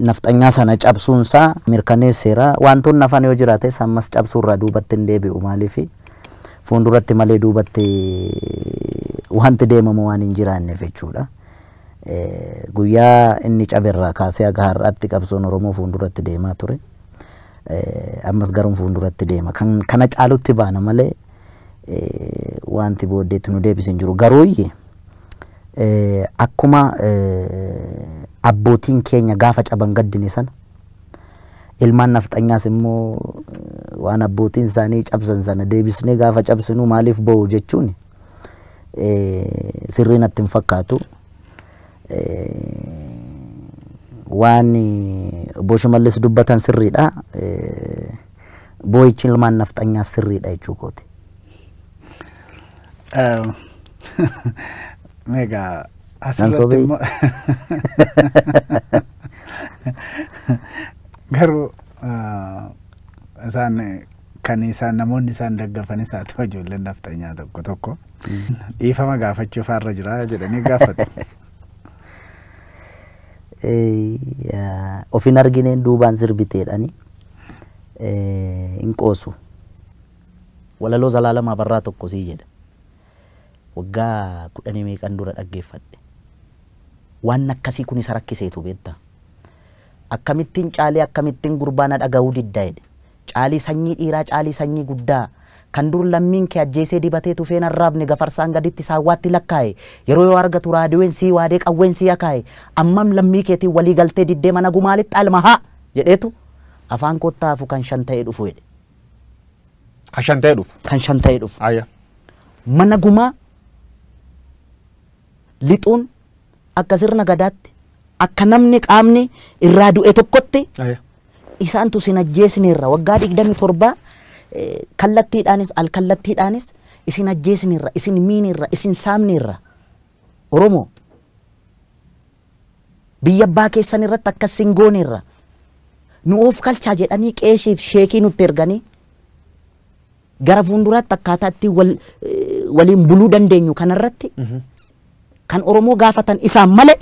nafxanyaa sana cabsuun isaa mirkaneesseera. Wantoonni hafan yoo jiraates ammas cabsuurraa duubatti hin deebi'u maaliif fuulduratti malee duubatti wanti deemamu waan hin jiraanneef jechuudha. Guyyaa inni caberraa kaasee haga har'aatti qabsoon Oromoo fuulduratti deemaa ture. Ammas garuu fuulduratti deema. Kan kana caalutti baana malee wanti booddeetti nu deebisu hin jiru. Garuu Akkuma abbootiin keenya gaafa caban gaddine sana, ilmaan nafxanyaas immoo waan abbootiin isaanii cabsan sana deebisnee gaafa cabsinu maaliif boo'u jechuun sirrii natti hin fakkaatu. Waan obbo Shimallis dubbatan sirriidha. Boo'ichi ilmaan nafxanyaas sirriidha jechuu kooti. Ehm, Meegaa Nan asirratti sobee? immoo garuu ah, isaan kan isaan namoonni isaan daggafanis haa ta'u ijoolleen nafxanyaa tokko tokko dhiifama gaafachuu faarra jira jedhanii gaafatu. Eh, yaa, of hin argineen duubaan sirbiteedhani eh, hin qoosu. Walaloo Zalaalam Abarraa tokko sii jedha. Waggaa kudhanii meeqan dura dhaggeeffadhe. Waan akkasii kun isa rakkiseetu beektaa. Akkamittiin Caalii akkamittiin gurbaa na dhagahuu didda jedhe. Caalii sanyii dhiiraa Caalii sanyii guddaa kan dur lammiin kee ajjeesee dibatee tufeen arraabne gafarsaan gaditti saawwaatti lakkaaye yeroo yoo argatu raadiween sii waadee qawween sii akaaye ammam lammii keetiin walii galtee diddee mana gumaa lixxaa ilma haa jedheetu afaan koottaa hafu kan shan ta'ee dhufu jedhe. Kan shan ta'ee dhufu. kan shan ta'ee dhufu. Ayya. Mana gumaa lixuun akka sirna gadaatti akka namni qaamni irraa du'e tokkotti Ayya. isaantu isin ajjeesneerra waggaa digdami torbaa eh, kallattiidhaanis alkallattiidhaanis isin ajjeesneerra isin miineerra isin saamneerra Oromoo! Biyya abbaa keessan irratti akkas sin gooneerra. Nu oofkalchaa jedhanii qeeshiif sheekii nutti erganii gara fuulduraatti akkaataa ittiin wal, eh, waliin buluu dandeenyu kanarratti kan Oromoo gaafatan isaan malee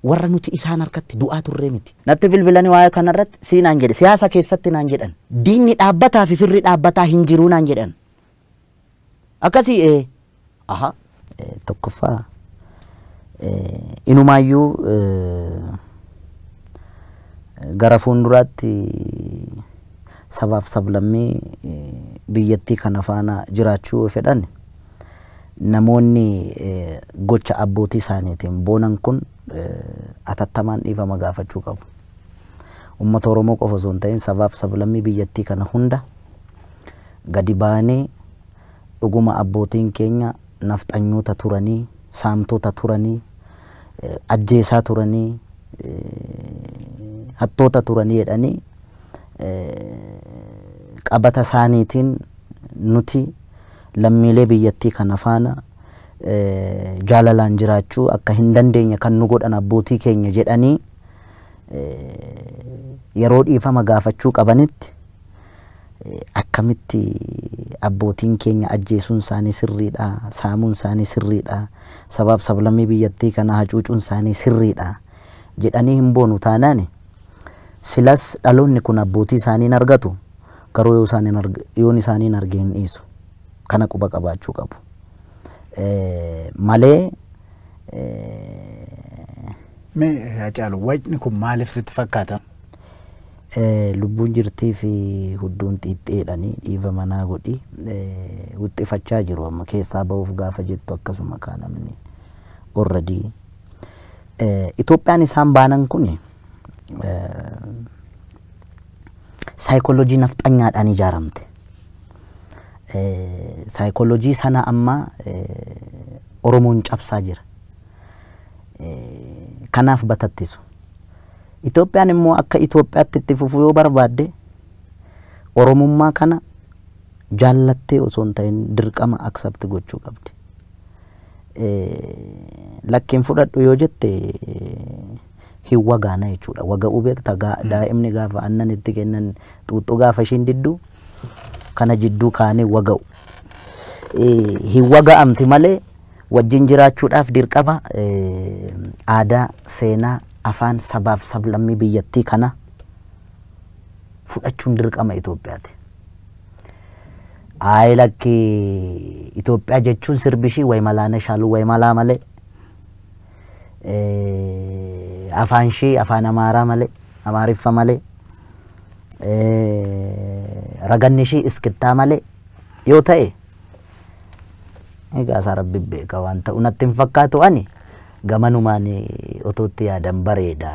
warra nuti isaan harkatti du'aa turree miti. Natti bilbilanii waa'ee kanarratti sii naan jedhe siyaasa keessatti naan jedhan diinni dhaabbataa fi firri dhaabbataa hin jiruu naan jedhan. Akkasii ee. Ahaa. Tokkoffaa inumaayyuu gara fuulduraatti sabaaf sablammii biyyattii kana faana jiraachuu fedhan namoonni gocha abbootii isaaniitiin boonan kun atattamaan dhiifama gaafachuu qabu. Uummata Oromoo qofa osoo hin ta'in sabaaf sablammii biyyattii kana hunda gadi baanee dhuguma abbootiin keenya nafxanyoota turanii, saamtota turanii, ajjeesaa turanii, hattoota turanii jedhanii qabata isaaniitiin nuti lammiilee biyyattii kana faana jaalalaan jiraachuu akka hin dandeenye kan nu godhan abbootii keenya jedhanii yeroo dhiifama gaafachuu qabanitti akkamitti abbootiin keenya ajjeesuun isaanii sirriidha, saamuun isaanii sirriidha, sabaaf sablammii biyyattii kana hacuucuun isaanii sirriidha jedhanii hin boonu taanaan silas dhaloonni kun abbootii isaanii hin argatu garuu yoo isaan hin arg- yoon isaanii hin arge hin dhiisu. Kana quba qabaachuu qabu. Eh, Malee eh, Mee Hacaalu wayitni kun maaliif sitti fakkaata? Lubbuun jirtii fi hudduun xiixxeedhani dhiifama naa godhi wuxxifachaa jiru amma keessaa bahuuf gaafa jettu akkasuma kaa namni already Itoophiyaan isaan baanan kun saayikoolojii nafxanyaadhaan ijaaramte. Saayikoolojii sana amma Oromoon cabsaa jira. Kanaaf batattisu. Itoophiyaan immoo akka Itoophiyaatti itti fufuu yoo barbaadde Oromummaa kana jaallattee osoo hin ta'in dirqama accept gochuu qabdi. Lakki hin fudhadhu yoo jette hin wagaana jechuudha. Waga'uu beekta daa'imni gaafa aannan itti kennan xuuxxuu gaafa ishiin diddu kana jidduu kaanii waga'u. Hin waga'amti malee Wajjin jiraachuudhaaf dirqama aadaa, seenaa, afaan, sabaaf sablammii biyyattii kana fudhachuun dirqama Itoophiyaati. Ayi lakki Itoophiyaa jechuun sirbi ishii Wayimalaana Shaaluu Wayimalaa malee afaan ishii afaan Amaaraa malee Amaariffa malee raganni ishii iskittaa malee yoo ta'e Egaa isaa rabbi beeka waan ta'u natti hin fakkaatu ani gamanumaan otoo itti yaadan bareeda.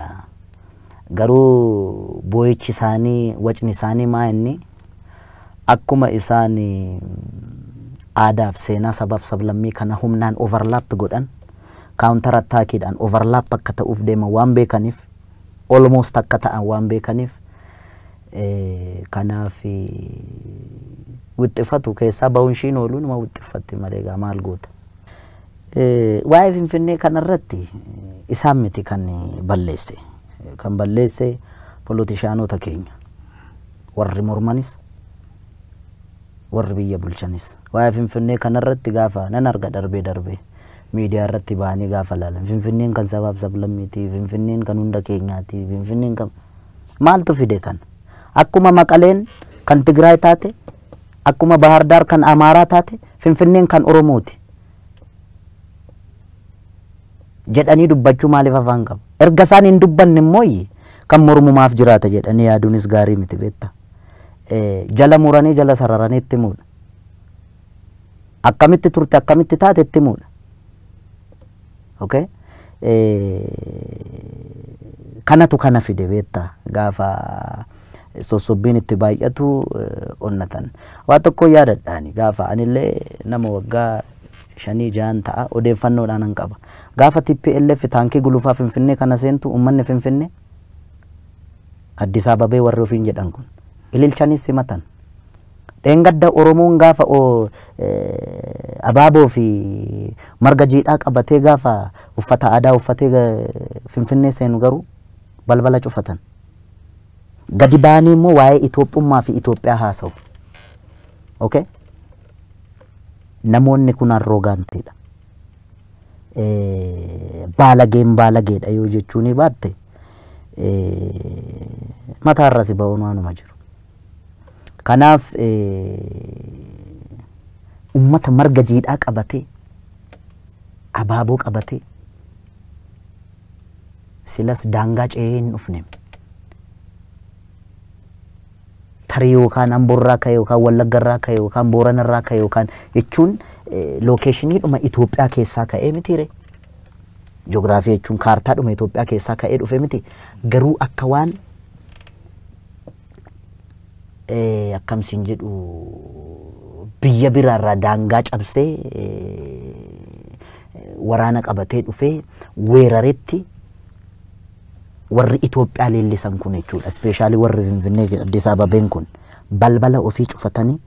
Garuu boo'ichi isaanii wacni isaanii maa inni akkuma isaan aadaaf seenaa sabaaf sablammii kana humnaan overlap godhan counter attackiidhaan overlap akka ta'uuf deeman waan beekaniif almost akka ta'an waan beekaniif kanaaf wixxifatu keessaa ba'uun ishiin ooluu nama wixxiffatti malee egaa maal goota. Waa'ee Finfinnee kanarratti isaan miti kan balleesse. Kan balleesse polotishaanota keenya warri mormanis warri biyya bulchanis. Waa'ee Finfinnee kanarratti gaafa nan arga darbee darbee miidiyaarratti ba'anii gaafa laalan Finfinneen kan sabaaf sablammiiti, Finfinneen kan hunda keenyaati, Finfinneen kan maaltu fide kana? Akkuma Maqaleen kan Tigraay taate, akkuma Bahaar Daar kan Amaaraa taate Finfinneen kan Oromooti jedhanii dubbachuu maaliif afaan qabu? Erga isaan hin dubbanne immoo kan mormumaaf jiraata jedhanii yaaduunis gaarii miti beektaa. Jala muranii jala sararanii itti muudha. akkamitti turte akkamitti taate itti himuudha. Okay? Kanatu kana fide beekta gaafa sossobbiin itti baay'atu onnatan. Waa tokko yaadadhaani gaafa anillee nama waggaa shanii jahan ta'a odeeffannoodhaan nan qaba. Gaafa TPLF taankii gulufaa Finfinnee kana seentu uummanni Finfinnee Addis Ababee warri ofiin jedhan kun ililchaniis simatan. Dheengadda Oromoon gaafa abaaboo fi marga jiidhaa qabatee gaafa uffata aadaa uffatee Finfinnee seenu garuu balbala cufatan. Gadi ba'anii immoo waa'ee Itoophummaa fi Itoophiyaa haasa'u. Okay? Namoonni kun arroogaantiidha. Baalageen baalageedha yoo jechuunii baatte mataarra si ba'uun waanuma jiru. Kanaaf ummata marga jiidhaa qabatee, abaaboo qabatee silas daangaa ce'ee hin dhufne. Tarii yookaan Amborraa ka'e yookaan Wallaggarraa ka'e yookaan Booranarraa ka'e yookaan jechuun lookeeshiniidhuma Itoophiyaa keessaa ka'ee mitiire. Joogiraafii jechuun kaartaadhuma Itoophiyaa keessaa ka'ee dhufe miti. Garuu akka waan eh, akkam sin jedhu biyya biraarraa daangaa cabsee eh, waraana qabatee dhufee weeraretti warri Itoophiyaa leellisan kun jechuudha. Ispeeshaalii warri Finfinnee jedha Addis Ababeen kun balbala ofii cufatanii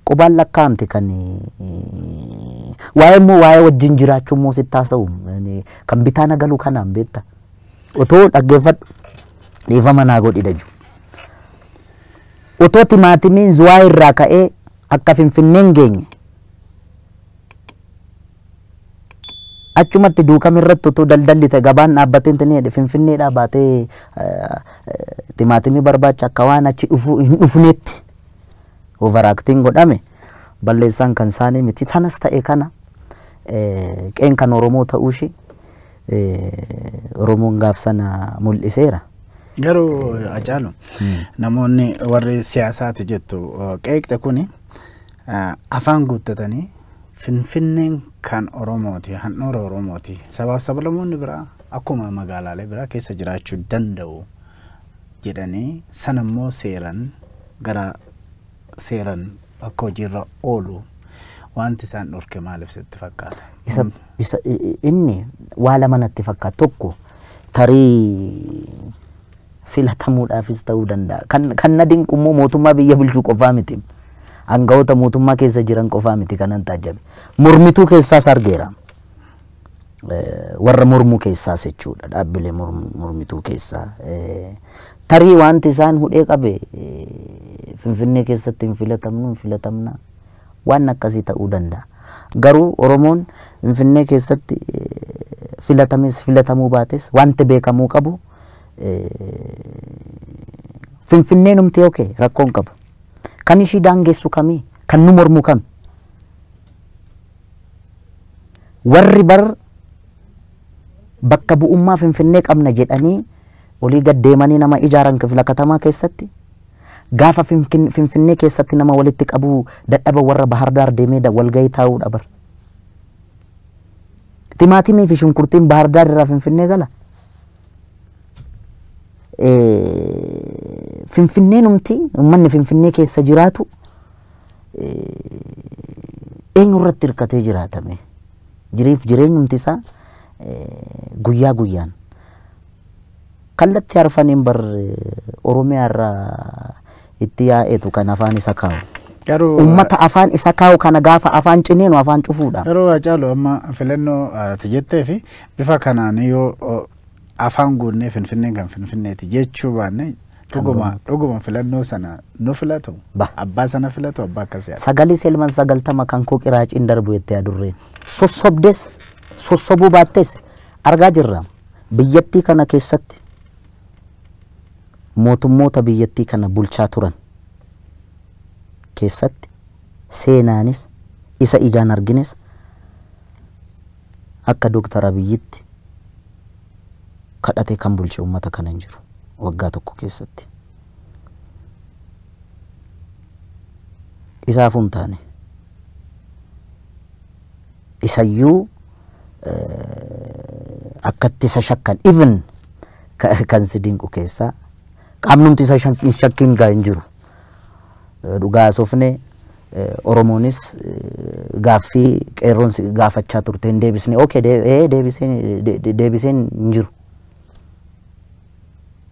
qubaan lakkaa'amte kan eh, waa'ee immoo waa'ee wajjin jiraachuu immoo sitti haasa'u Eh, kan bitaa nagalu kanaan beekta. Otoo dhaggeeffadhu Dhiifama naa godhi daju. Otoo timaatimiin zuwaa irraa ka'ee akka finfinneen geenye achumatti duukam irratti utuu daldalli ta'e gabaan dhaabbatee hin ta'e finfinneedhaa baatee timaatimii barbaacha akka waan achi dhufu hin dhufneetti overaaktiin godhame balleessaan kan isaanii miti sanas ta'e kana qeen kan oromoo ta'uu ishee eh, Oromoon gaaf sana mul'iseera. Garuu Hacaalu namoonni warri siyaasaati jettu uh, qeeqxe kuni uh, afaan guuttatanii Finfinneen kan Oromooti, handhuura Oromooti. Sabaaf sablamoonni biraa akkuma magaalaalee biraa keessa jiraachuu danda'u jedhanii sanammoo seeran gara seeran akka hojiirra oolu wanti isaan dhorke maaliif sitti fakkaata? isa, isa, i- i- inni waa lama natti fakkaata tokko tarii filatamuudhaafis ta'uu danda'a kan, kan na dinqu immoo mootummaa biyya bulchuu qofaa miti aangawoota mootummaa keessa jiran qofaa miti kanan taajjabe mormituu keessaas argeera warra mormuu keessaas jechuudha dhaabbilee mormituu keessaa tarii wanti isaan hudhee qabe finfinnee keessatti hin filatamnu hin filatamna waan akkasii ta'uu danda'a. Garuu Oromoon finfinnee keessatti filatames filatamuu baates wanti beekamuu qabu finfinneen humti oke rakkoon qabu. Kan ishii daangessu kamii kan nu mormu kami. Warri bar bakka bu'ummaa Finfinnee qabna jedhanii olii gad deemanii nama ijaaran kifla katamaa keessatti, gaafa Finfinnee keessatti nama walitti qabuu dadhaban warra Bahar Daar deemee walgahii taa'uudha bar. Timaatimii fi shunkurtiin Bahar Daar irraa Finfinnee gala? Finfinneenumti uummanni Finfinnee keessa jiraatu eenyu irratti hirkatee jiraatame jiriif jireenyumti isaa guyyaa guyyaan kallatti arfaniin bar oromiyaa irraa itti yaa'etu kan afaan isa kaa'u. Garuu Uummata afaan isa kaa'u kana gaafa afaan ciniinu afaan cufuudha. garuu Haacaaluu amma filannoo ati jettee fi bifa kanaan yoo afaan guunnee Finfinneen kan Finfinneeti jechuu baanne dhuguma dhuguma filannoo sana nu filatu? Ba. Abbaa sana filatu? Abbaa akkasii ati? Sagalii Selman sagaltama kan koo qiraaciin darbu jettee adurreen. Sossobdes, sossobuu baattes argaa jirra. Biyyattii kana keessatti mootummoota biyyattii kana bulchaa turan keessatti seenaanis isa ijaan argines Akka Dr Abiyyitti kadhatee kan bulche ummata kana hin jiru waggaa tokko keessatti. Isaafuu hin taane. Isayyuu akkatti isa shakkan even kan si dinqu keessaa qaamnumti isa hin shakkin gaa hin jiru. Dhugaa sofne Oromoonis gaaffii qeerroon si gaafachaa turte hin deebisne. Okay, dee- ee, deebiseen de- de- deebiseen hin jiru.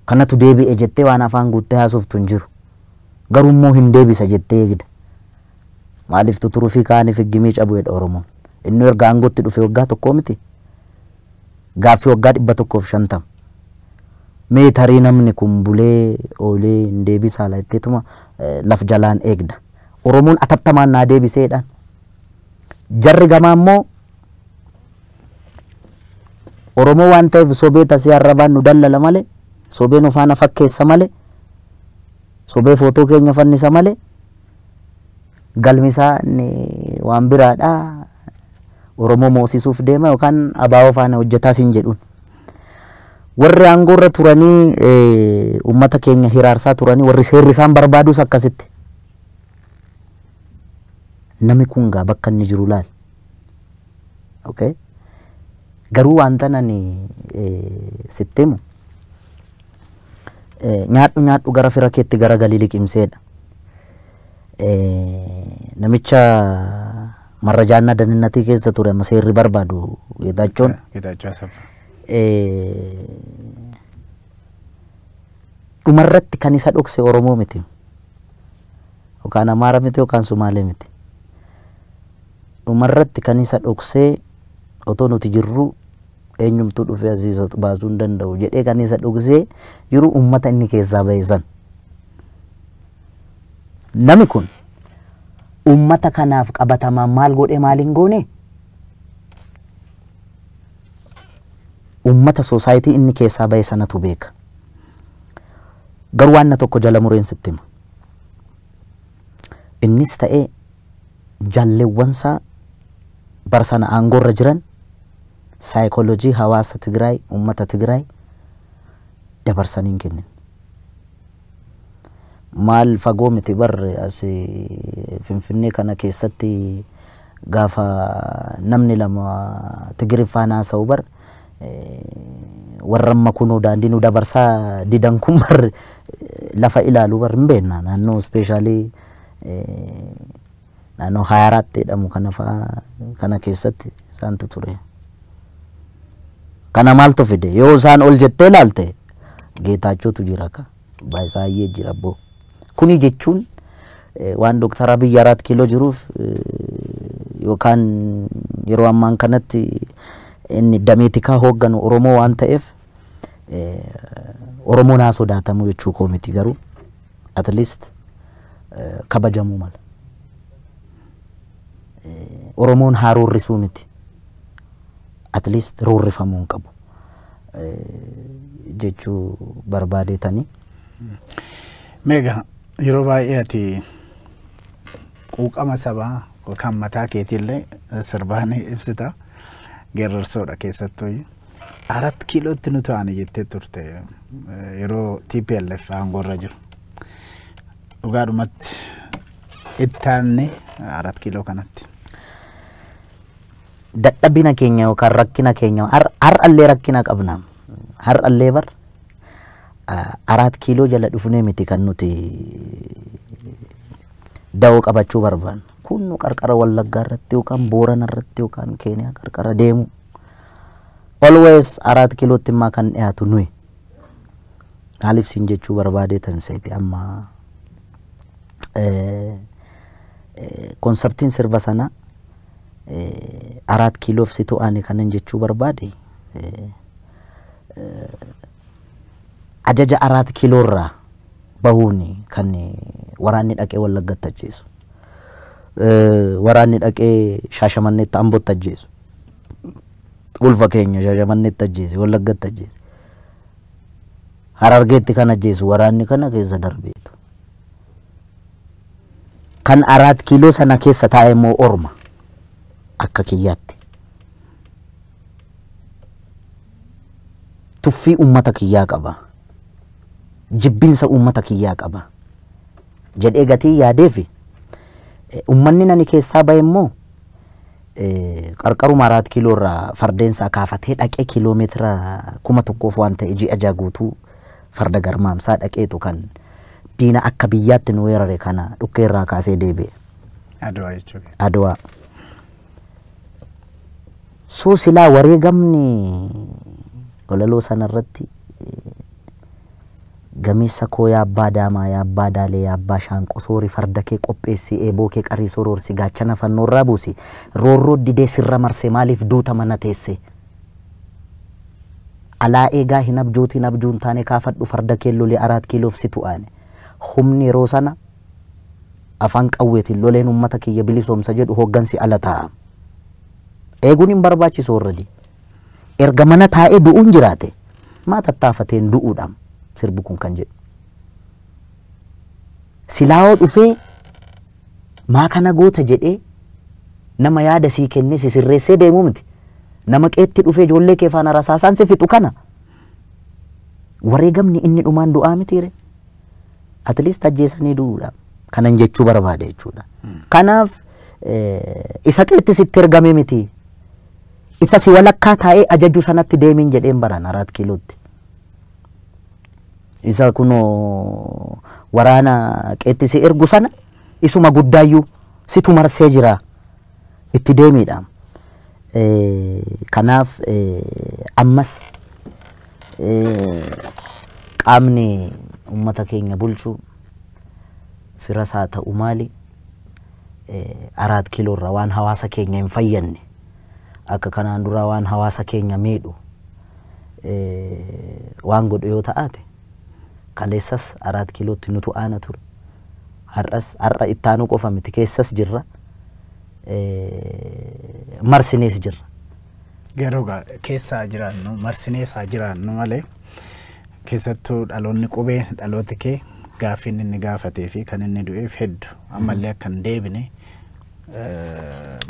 Kanatu deebi'e jettee waan afaan guuttee haasoftu hin jiru. Garuu immoo hin deebisa jettee eegda. Maaliif tuturufii kaaniif higgimii cabu jedha Oromoon. Inni erga aangootti dhufe waggaa tokkoo miti. Gaaffii waggaa 150. Mee tarii namni kun bulee oolee hin deebisaa la jetteetuma laf jalaan eegda. Oromoon atattamaan naa deebisee jedhaan. Jarri gamaa immoo Oromoo waan ta'eef sobee tasee arrabaan nu dallala malee sobee nu faana fakkeessa malee sobee footoo keenya fannisa malee Galmi isaa inni waan biraadha. Oromoo moosisuuf deema yookaan abaawoo faana hojjetaa siin jedhuun. Warri aangoo irra turanii eh, uummata keenya hiraarsaa turanii warri seerri isaan barbaadus akkasitti. Nami kun gaa bakka inni jiru laal. Okay? Garuu wanta ani eh, sitti himu eh, nyaadhu nyaadhu gara fira keetti gara galii liqimseedha. namicha marrajaannaa daninnatii keessa ture amma seerri barbaadu Geetaachoon Geetaachoo Asaffaa. dhumarratti kan isa dhokse Oromoo miti. Yookaan Amaara miti yookaan Sumaalee miti. Dhumarratti kan isa dhoksee otoo nuti jirru eenyumtuu dhufee asii isa baasuu hin danda'u jedhee kan isa dhoksee jiru uummata inni keessaa ba'e san. Nami kun ummata kanaaf qabatamaan maal godhee maal hin goone? Ummata soosaayitii inni keessaa bahe sanatu beeka. Garuu waanna tokko jala mureen sitti hima. Innis ta'ee jallewwansaa bara sana aangoorra jiran saayikoolojii hawaasa Tigraay, ummata Tigraay dabarsanii hin kennine. Maal fagoo miti bar as Finfinnee kana keessatti gaafa namni lama Tigiriffaan haasa'u bar warra amma kunoo daandii nu dabarsaa didan kun bar lafa ilaalu bar hin beekna naannoo ispeeshaalii naannoo Hayaaraatti jedhamu kana fa'a kana keessatti isaantu ture. Kana maaltu fide? Yoo isaan ol jettee laalte Geetaachootu jira ka. Baay'isaayyee jira boo. Kuni jechuun waan Dooktar Abiy Araat Kiiloo jiruuf yookaan yeroo ammaan kanatti inni damee tikaa hoogganu Oromoo waan ta'eef Oromoon haa sodaatamu jechuu koo miti garuu at least eh, kabajamuu mala. Eh, Oromoon haa roorrisuu miti. At least roorrifamuu hin qabu. Eh, jechuu barbaadeetanii. Meegaa yeroo baay'ee ati quuqama sabaa yookaan mataa keetiillee sirbaan ibsita. Geerarsoodha keessattuu. Arat kiilootti nutu aane jettee turte yeroo TPLF aangoorra jiru. Dhugaadhumatti itti aanne arat kiiloo kanatti. Dadhabina keenya yookaan rakkina keenya har- har'allee rakkina qabna. Har'allee bar ah, araat kiiloo jala dhufnee miti kan nuti dawoo qabachuu barbaannu. Kun nu qarqara Wallaggaa irratti yookaan Boorana irratti yookaan Keeniyaa qarqara deemuu. Always araat kilootti immaa kan dhiyaatu nuyi. Maaliif siin jechuu barbaadee tan seete amma konsartiin sirba sana araat kiloof situ aane kanan jechuu barbaade ajaja araat kiloorraa bahuun kan waraanni dhaqee wallaggatti ajjeesu. Waraanni dhaqee shaashamanneetti ambotti ajjeesu. ulfa keenya shashamannetti ajjeese wallaggatti ajjeese harargeetti kan ajjeesu waraanni kana keessa darbeetu kan araat kiiloo sana keessa taa'e immoo orma akka kiyyaatti tuffii ummata kiyyaa qaba jibbinsa ummata kiyyaa qaba jedhee gatii yaadeefi ummanni nani keessaa bahe immoo Qarqaruma Araat Kiiloo irraa fardeen isaa kaafatee dhaqee kiiloo meetira kuma tokkoof waan ta'e ji'a jaha guutuu farda garmaamsaa dhaqeetu kan diina akka biyyaatti nu weerare kana dhukkee irraa kaasee deebi'e. Adwaa jechuudha. Adwaa. Soo silaa wareegamni walaloo sana irratti Gameessa koo yaa abbaa daamaa yaa abbaa daalee yaa abbaa shaanqoo soori farda kee qopheessi eeboo kee qarii soroorsi gaachana fannoo irraa buusi roorroo didee sirra marse maaliif duuta mana teesse alaa eegaa hin abjootiin abjuun taane kaafadhu farda kee loli araat kiiloof situ aane humni yeroo sana afaan qawweetiin loleen ummata kiyya bilisoomsa jedhu hooggansi ala taa'a eeguun hin barbaachisu warradii. Erga mana taa'ee du'uun jiraate maa tattaafateen du'uudhaam sirbi kun kan jedhu. Silaawoo dhufee maa kana goota jedhee nama yaada sii kennee si sirreessee deemuu miti. Nama qeetti dhufee ijoollee kee faana rasaasaan si fixu kana wareegamni inni dhumaan du'aa mitiire. At least ajjeesanii du'uudha. Kanan jechuu barbaade jechuudha. Kanaaf eh, isa qeetti sitti ergame miti. Isa si walakkaa taa'ee ajaju sanatti deemiin jedheen baran Araat Kiilootti. Isa kunoo waraana qeetti si ergu sana isuma guddaayyuu situ marsee jira itti deemiidha. Eh, Kanaaf eh, ammas eh, qaamni uummata keenya bulchu firas haa ta'u maali araat kiiloo irraa waan hawaasa keenya hin fayyadne akka kanaan duraa waan hawaasa keenya miidhu waan godhu yoo ta'aate kaleessas araat kiilootti nutu aana ture. Har'as har'a ittaanuu qofa miti keessas jirra. Marsinees jirra. Garuu keessaa jiraannu marsinees haa jiraannu malee Keessattuu dhaloonni qubee dhalooti kee gaaffiin inni gaafatee fi kan inni du'eef heddu ammallee akka hin deebine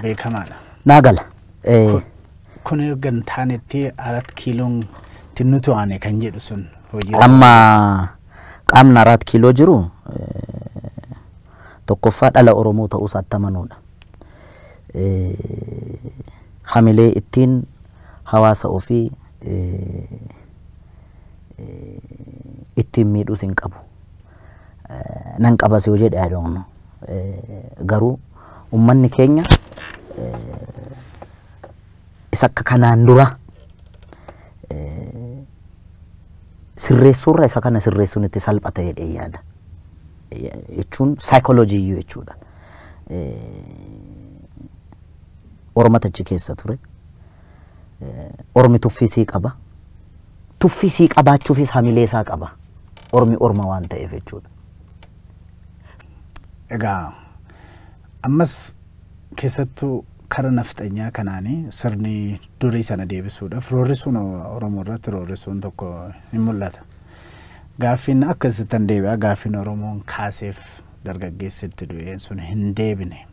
beekamaadha. Naa gala. Kun erga hin taanetti arat kiiloon itti nu to'ane kan jedhu sun hojii. Amma qaamni arat kiiloo jiru tokkoffaa dhala Oromoo ta'uu isaatti amanuudha. Hamilee ittiin hawaasa ofii ittiin miidhus hin qabu. Nan qabas yoo jedhe I don't know. Garuu ummanni keenya isa akka kanaan dura sirreessuurra isa kana sirreessuun itti salphata jedhee yaada. Jechuun saayikooloojii iyyuu jechuudha. Oromata achi keessa ture. Ormi tuffii sii qaba. Tuffii sii qabaachuufis hamilee isaa qaba. Ormi orma waan ta'eef jechuudha. Egaa ammas keessattuu kara nafxanyaa kanaanii sirni durii sana deebisuudhaaf roorrisuun Oromoo irratti roorrisuun tokko hin mul'ata. Gaaffiin akka isittan deebi'a gaaffiin Oromoon kaaseef dargaggeessi itti du'een sun hin deebine.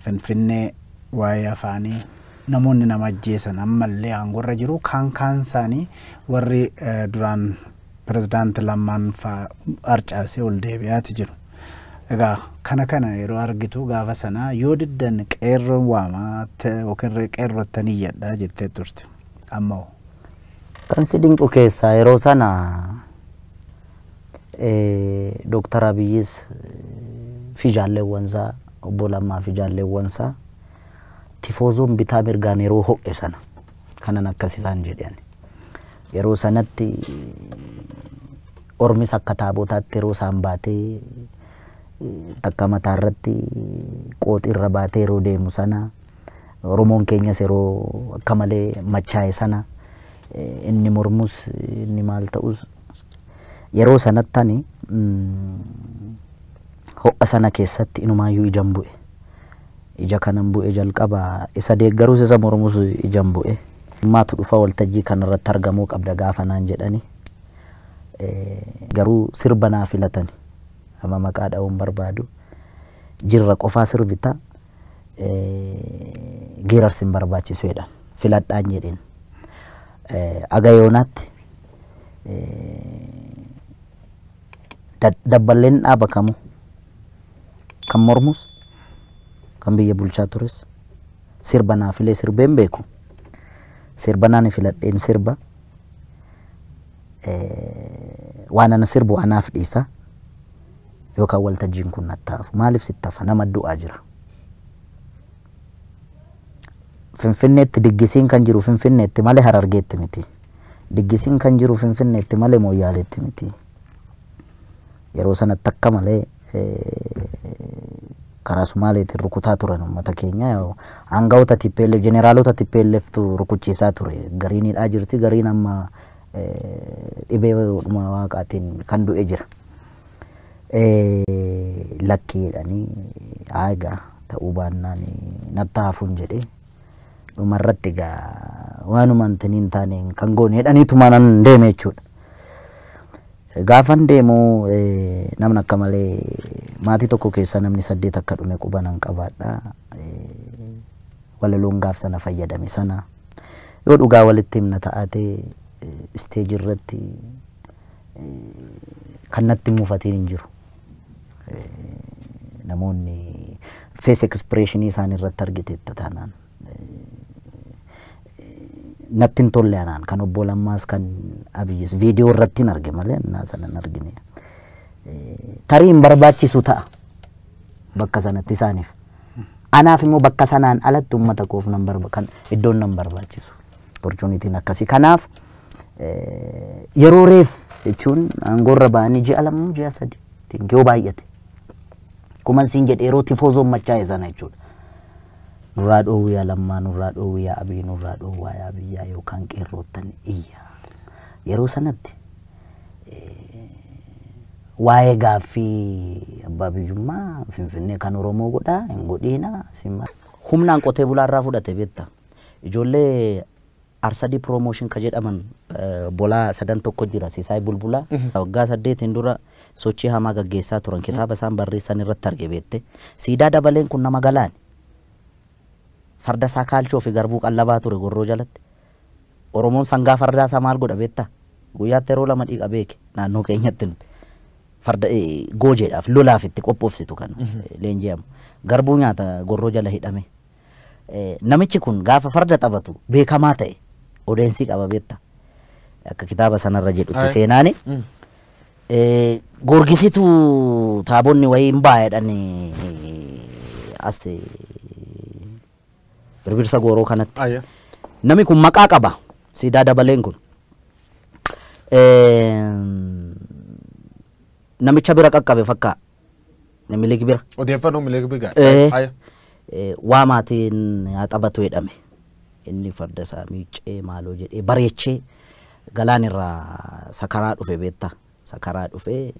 Finfinnee, Waa'ee afaanii namoonni nama ajjeesan ammallee aangorra jiru. Kaan kaan isaanii warri eh, duraan pirezidaanti Lammaan faa harcaasee ol deebi'aati jiru. Egaa kana kana yeroo argitu gaafa sana yoo diddan qeerroon waamaa te- yookiin re- qeerrottan iyyadhaa jettee turte. Amma hoo? Kan si dinqu keessaa yeroo sana Dooktar Abiyyis fi jaalleewwansaa obbo Lammaa fi jaalleewwansaa tifoozoon bitaa mirgaan yeroo ho'e sana kanan akkas isaan jedhan. Yeroo sanatti ormis akka taabotaatti yeroo isaan baatee takka mataa irratti qooxii irra baatee yeroo deemu sana Oromoon keenyas yeroo akka malee machaa'e sana inni mormus inni maal ta'us Yeroo sanatti ani ho'a sana keessatti inumaayyuu ijan bu'e. Ija kanan bu'e jalqaba isa deeggarus isa mormus ijan bu'e. Maatu dhufa waltajjii kanarratti argamuu qabda gaafa naan jedhani. Garuu sirba naa filatani. Amma maqaa dha'uu hin barbaadu. Jirra qofaa sirbita. Geerarsi hin barbaachisu jedhan. Filadhaan jedheen. Haga yoonaatti dabballeen dhaaba kamuu kan mormus kan biyya bulchaa tures sirba naa filee sirbee hin beeku. Sirba naan filadheen sirba waan ana sirbu anaaf dhiisa yookaan waltajjiin kun nattaafu maaliif sittafa nama du'aa jira. Finfinneetti diggisiin kan jiru Finfinneetti male Harargeetti miti. Diggisiin kan jiru Finfinneetti male Mooyyaaleetti miti. Yeroo sanatti akka malee karaa Sumaaleetiin rukutaa turan uummata keenya. Aangawoota TPLF, jeneraalota TPLFtu rukuchiisaa ture. Gariin hidhaa jirti, gariin amma dhibee waaqaatiin kan du'e jira. Lakkii jedhanii egaa ta'uu baannaan natti haafuun jedhee dhumarratti egaa waanuma intini hin taane kan goone jedhanii tumanan deeme jechuudha. Gaafan deemu namni akka malee maatii tokko keessa namni saddeet akka dhume qubanan qabaadha. Walaloon gaaf sana fayyadame sana. Yoo dhugaa walitti himna ta'ate isteeji irratti kan natti muufatiin hin jiru. Namoonni fees ekspreeshinii isaanii irratti argiteetta taanaan. Natti hin tolle anaan kan obbo Lammaas kan Abiyyis viidiyoo irratti hin arge malee naa sana hin argine. Tarii hin barbaachisu ta'a bakka sanatti isaaniif. Anaaf immoo bakka sanaan alatti ummata koof nan barba kan iddoon nan barbaachisu opportunitiin akkasii kanaaf yeroo reef jechuun aangoorra ba'anii ji'a lama ji'a sadii tiin yoo baay'ate kuman siin jedhe yeroo tifoozoon machaa'e sana jechuudha. Nurraa dhoowwii yaa lammaa nurraa dhoowwii yaa abii nurraa dhoowwaa yaa biyyaa yookaan qeerroottan iyyaa yeroo sanatti waa'ee gaaffii abbaa biyyummaa Finfinnee kan Oromoo godhaa hin godhiina simma. Humnaan qotee bulaa irraa fudhate beekta. Ijoollee Arsadii Promotion ka jedhaman bolaa sadan tokko jira Sisaay Bulbulaa. Waggaa saddeetiin dura sochii hamaa gaggeessaa turan kitaaba isaan barreessan irratti arge beekte. Siidaa dabaleen kun nama galaani. Farda isaa kaalchoo fi garbuu qallabaa ture gorroo jalatti. Oromoon sangaa fardaa isaa maal godha beektaa? Guyyaatti yeroo lama dhiqa beeki naannoo keenyatti nuti. Farda goojeedhaaf lolaaf itti qophoofsitu kan leenji'amu. Garbuu nyaata gorroo jala hidhame. Namichi kun gaafa farda taphatu beekamaa ta'e odeensii qaba beektaa? Akka kitaaba sanarra jedhutti seenaani. Gorgisitu taabonni wayii hin baay'adhan as Birbirsa Gooroo kanatti. Ayya. Nami kun maqaa qaba. Siidaa dabaleen kun. Eem, Namicha bira qaqqabe fakkaa. Minilik bira. Odeeffannoo milik bigaa. Ee. Ayya. Eh, waa maatiin haa taphatu jedhame inni farda isaa miiccee maaloo jedhee bareechee galaan irraa sakaraa dhufe beekta Isa karaa dhufee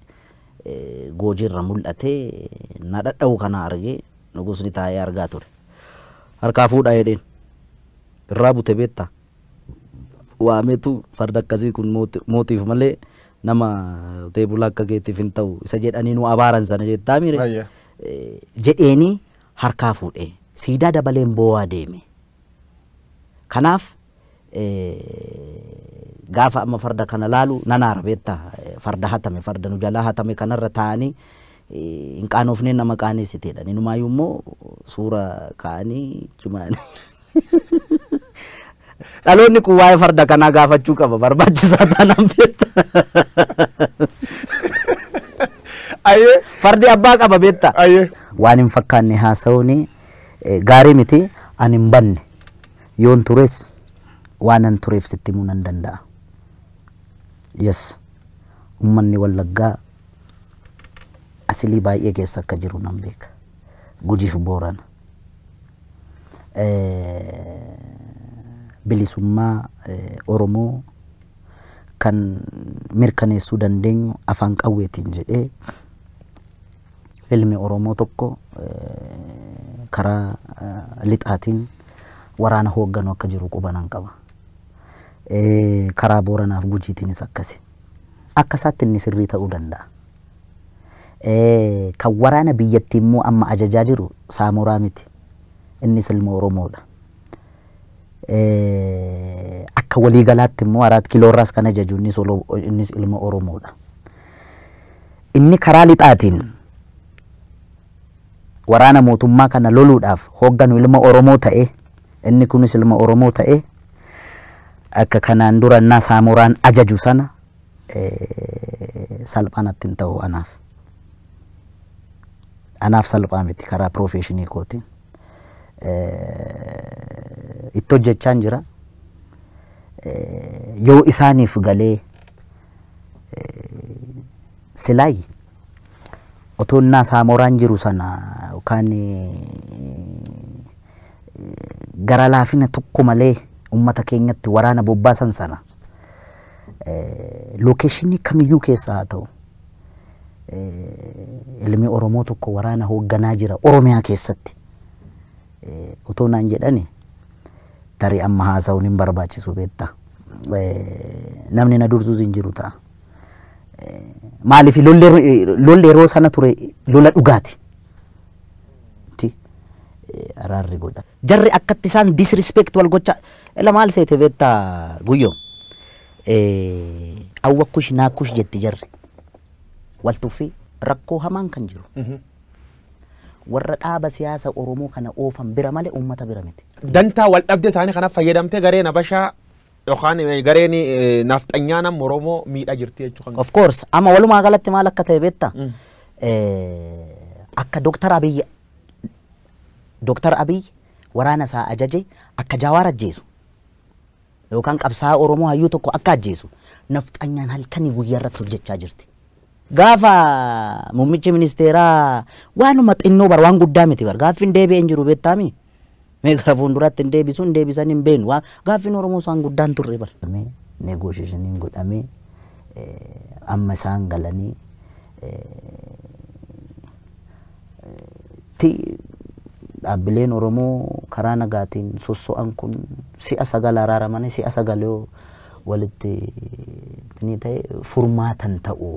Goojii irra mul'atee na dhadha'u kana argee nugusni taa'ee argaa ture. Harkaa fuudhaa jedheen. Irraa bute beektaa? Waameetu farda akkasii kun mootiif malee nama qotee bulaa akka keetiif hin ta'u isa jedhanii nu abaaran sana jettaa mire Ayya. jedheenii harkaa fuudhee siidaa dabaleen boo'aa deeme. Kanaaf gaafa amma farda kana laalu nan aara beetta farda hatame farda nu jalaa hatame kanarra taa'anii hin qaanofneen nama qaaneessiteedha inumaayyuu immoo suura kaa'anii cimaan dhaloonni kun waa'ee farda kanaa gaafachuu qaba barbaachisaa taanaan beetta Ayyee. fardi abbaa qaba beetta Ayyee. waan hin fakkaanne haasa'uun gaarii miti ani hin banne Yoon tures waanan tureef sitti himuu nan danda'a. Yes, ummanni Wallaggaa asilii baay'ee keessa akka jiru nan beeka. Gujiif Boorana. Bilisummaa Oromoo kan mirkaneessuu dandeenyu afaan qawweetiin jedhee Ilmi Oromoo tokko karaa lixaatiin waraana hoogganu akka jiru qubanan qaba. Karaa Booranaaf Gujiitiinis akkasi. Akka isaatti inni sirrii ta'uu danda'a. Kan waraana biyyattii immoo amma ajajaa jiru Saamoraa miti. Innis ilma Oromoodha. Akka waliigalaatti immoo Araat Kiloorraas kan ajaju innis ilma Oromoodha. Inni karaa lixaatiin waraana mootummaa kana loluudhaaf hoogganu ilma Oromoo ta'ee, inni kunis ilma Oromoo ta'ee akka kanaan dura innaa Saamooraan ajaju sana salphaa natti hin ta'u anaaf. Anaaf salphaa miti karaa piroofeeshinii kootiin. Itti hojjechaan jira. Yoo isaaniif galee Silaay otoo innaa saamooraan jiru sana yookaan gara laafina tokko malee uummata keenyatti waraana bobbaasan sana lookeeshinii kamiyyuu keessa haa ta'u ilmi Oromoo tokko waraana hoogganaa jira Oromiyaa keessatti otoo naan jedhani tarii amma haasa'uun hin barbaachisu beetta. Namni na dursus hin jiru ta'a. Maaliif lolli yeroo sana ture lola dhugaati. Araarri godha. Jarri akkatti isaan disrespect wal gocha ila maal seete beetta guyyo. Awwa kush naa kush jetti jarri. Wal tuffii rakkoo hamaan kan jiru. Warra dhaaba siyaasa Oromoo kana oofan bira malee uummata bira miti. Dantaa waldhabdee isaanii kanaf fayyadamtee gareen Habashaa yookaan gareen Nafxanyaan amma Oromoo miidhaa jirti jechuu kan Of course amma walumaa galatti maal akka ta'e beekta? Akka Dooktar Abiy Dooktar Abiy waraana isaa ajaje akka Jaawaar ajjeesu yookaan qabsaa'aa Oromoo hayyuu tokko akka ajjeesu nafxanyaan halkanii guyyaa irratti hojjechaa jirti. Gaafa muummichi ministeeraa waanuma xinnoo bar waan guddaa miti bar gaaffiin deebi'ee hin jiru beektaami. Mee gara fuulduraatti hin deebisu hin deebisan hin beenu waan gaaffiin Oromoos waan guddaa hin turre bar. Negoosheeshiniin godhamee amma isaan galanii ti dhaabbileen Oromoo karaa nagaatiin sosso'an kun si'a sagal araaramanii si'a sagal yoo walitti ni ta'e furmaatan ta'u.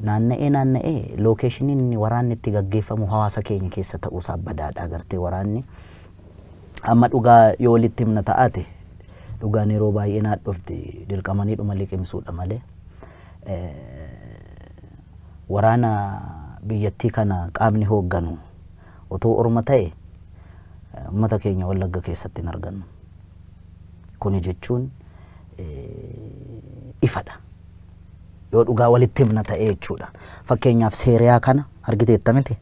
Naanna'ee naanna'ee lookeeshiniin inni waraanni itti gaggeeffamu hawaasa keenya keessa ta'uusaa badaadha agartee waraanni. Amma dhugaa yoo walitti himna ta'aate dhugaan yeroo baay'ee naadhofti dirqamanii dhuma liqimsuudha malee. Waraana biyyattii kana qaamni hoogganu utuu orma ta'e ummata keenya Wallagga keessatti hin argannu. Kuni jechuun ifadha. Yoo dhugaa walitti himna ta'ee jechuudha. Fakkeenyaaf Seeriyaa kana argiteetta miti?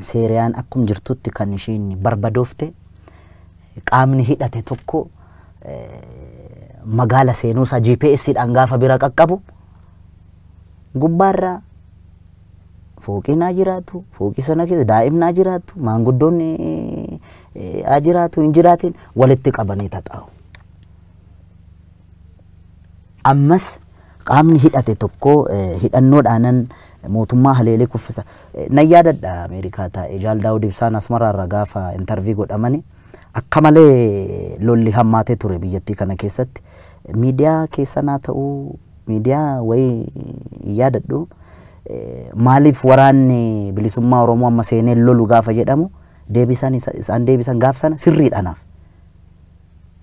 Seeriyaan akkum jirtutti kan ishiin barbadoofte qaamni hidhate tokko magaala seenuusaa GPS dhaan gaafa bira qaqqabu Gubbaarra fooqiin haa jiraatu, fooqii sana keessa daa'imni haa jiraatu, maanguddoon haa jiraatu, hin jiraatin walitti qabanii taxaa'u. Ammas qaamni hidhate tokko hidhannoodhaanan mootummaa haleelee kuffisa. Nan yaadadha Ameerikaa taa'ee Jaal Daawud Ibsaan Asmaraarra gaafa intarvii godhamani akka malee lolli hammaatee ture biyyattii kana keessatti miidiyaa keessan haa ta'uu Miidiyaa wayii hin yaadadhu. Maaliif waraanni bilisummaa Oromoo amma seenee lolu gaafa jedhamu deebisaan isaan deebisan gaaf sana sirriidha anaaf.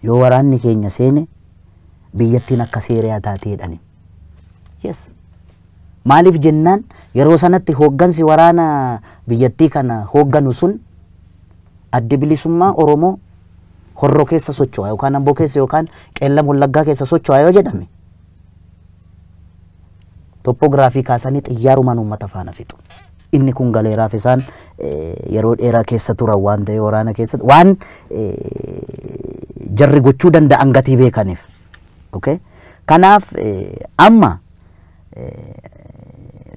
Yoo waraanni keenya seene biyyattiin akka seeriyaa taatee jedhani. Yes. Maaliif jennaan yeroo sanatti hooggansi waraana biyyattii kana hoogganu sun addi bilisummaa Oromoo horro keessa socho'a yookaan amboo keessa yookaan qeellam wallaggaa keessa socho'a yoo jedhame Toppoogiraafii kaasanii xiyyaarumaan uummata faana fixu. Inni kun galeeraaf isaan yeroo dheeraa keessa turan waan ta'e waraana keessatti waan jarri gochuu danda'an gatii beekaniif. Okay? Kanaaf amma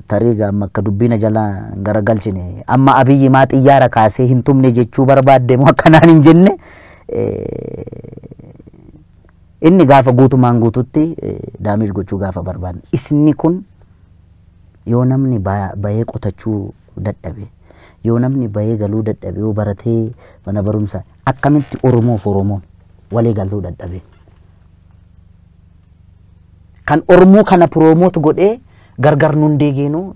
tarii amma akka dubbiina jala hin garagalchine amma abiyyi maa xiyyaara kaasee hin tumne jechuu barbaadde moo akkanaan hin jenne Inni gaafa guutumaan guututti daamish gochuu gaafa barbaadne isni kun yoo namni bahee qotachuu dadhabe yoo namni bahee galuu dadhabe yoo baratee mana barumsa akkamitti Oromoof Oromoon walii galuu dadhabe. Kan Oromoo kana piroomoot godhee gargar nun deegeenu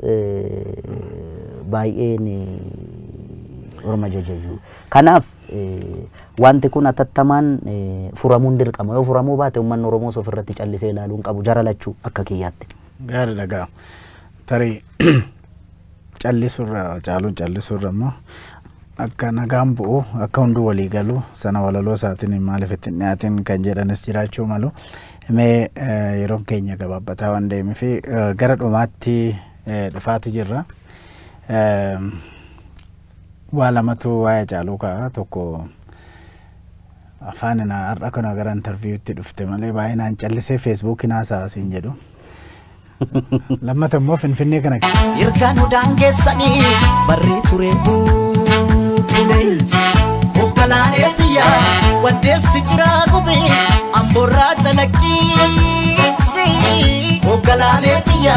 baay'een Oroma jajayyuu. Kanaaf Wanti kun atattamaan furamuun dirqama. Yoo furamuu baate ummanni Oromoos ofirratti callisee ilaaluu hin qabu jara lachuu akka kiyyaatti. Gaariidha gaa. Tarii callisurra caaluu callisurra immoo akka nagaan bu'u akka hunduu walii galu sana walaloo isaatiin maaliif ittiin dhiyaatiin kan jedhanis jiraachuu malu. Mee yeroon keenya gabaabbataa waan deemeef gara dhumaatti dhufaati jirra. Waa lamatu waa'ee Hacaaluu ka'a. Tokko afaan na har'a kana gara interviiwutti dhufte malee baay'inaan callisee feesbuukiin haasa'a siin jedhu. Lammata immoo Finfinnee kana Erga nu daangessanii barree ture buukule. Hogganaalee tiyya waddeessi jiraa gube amborraa calaqqiisi. Hogganaalee tiyya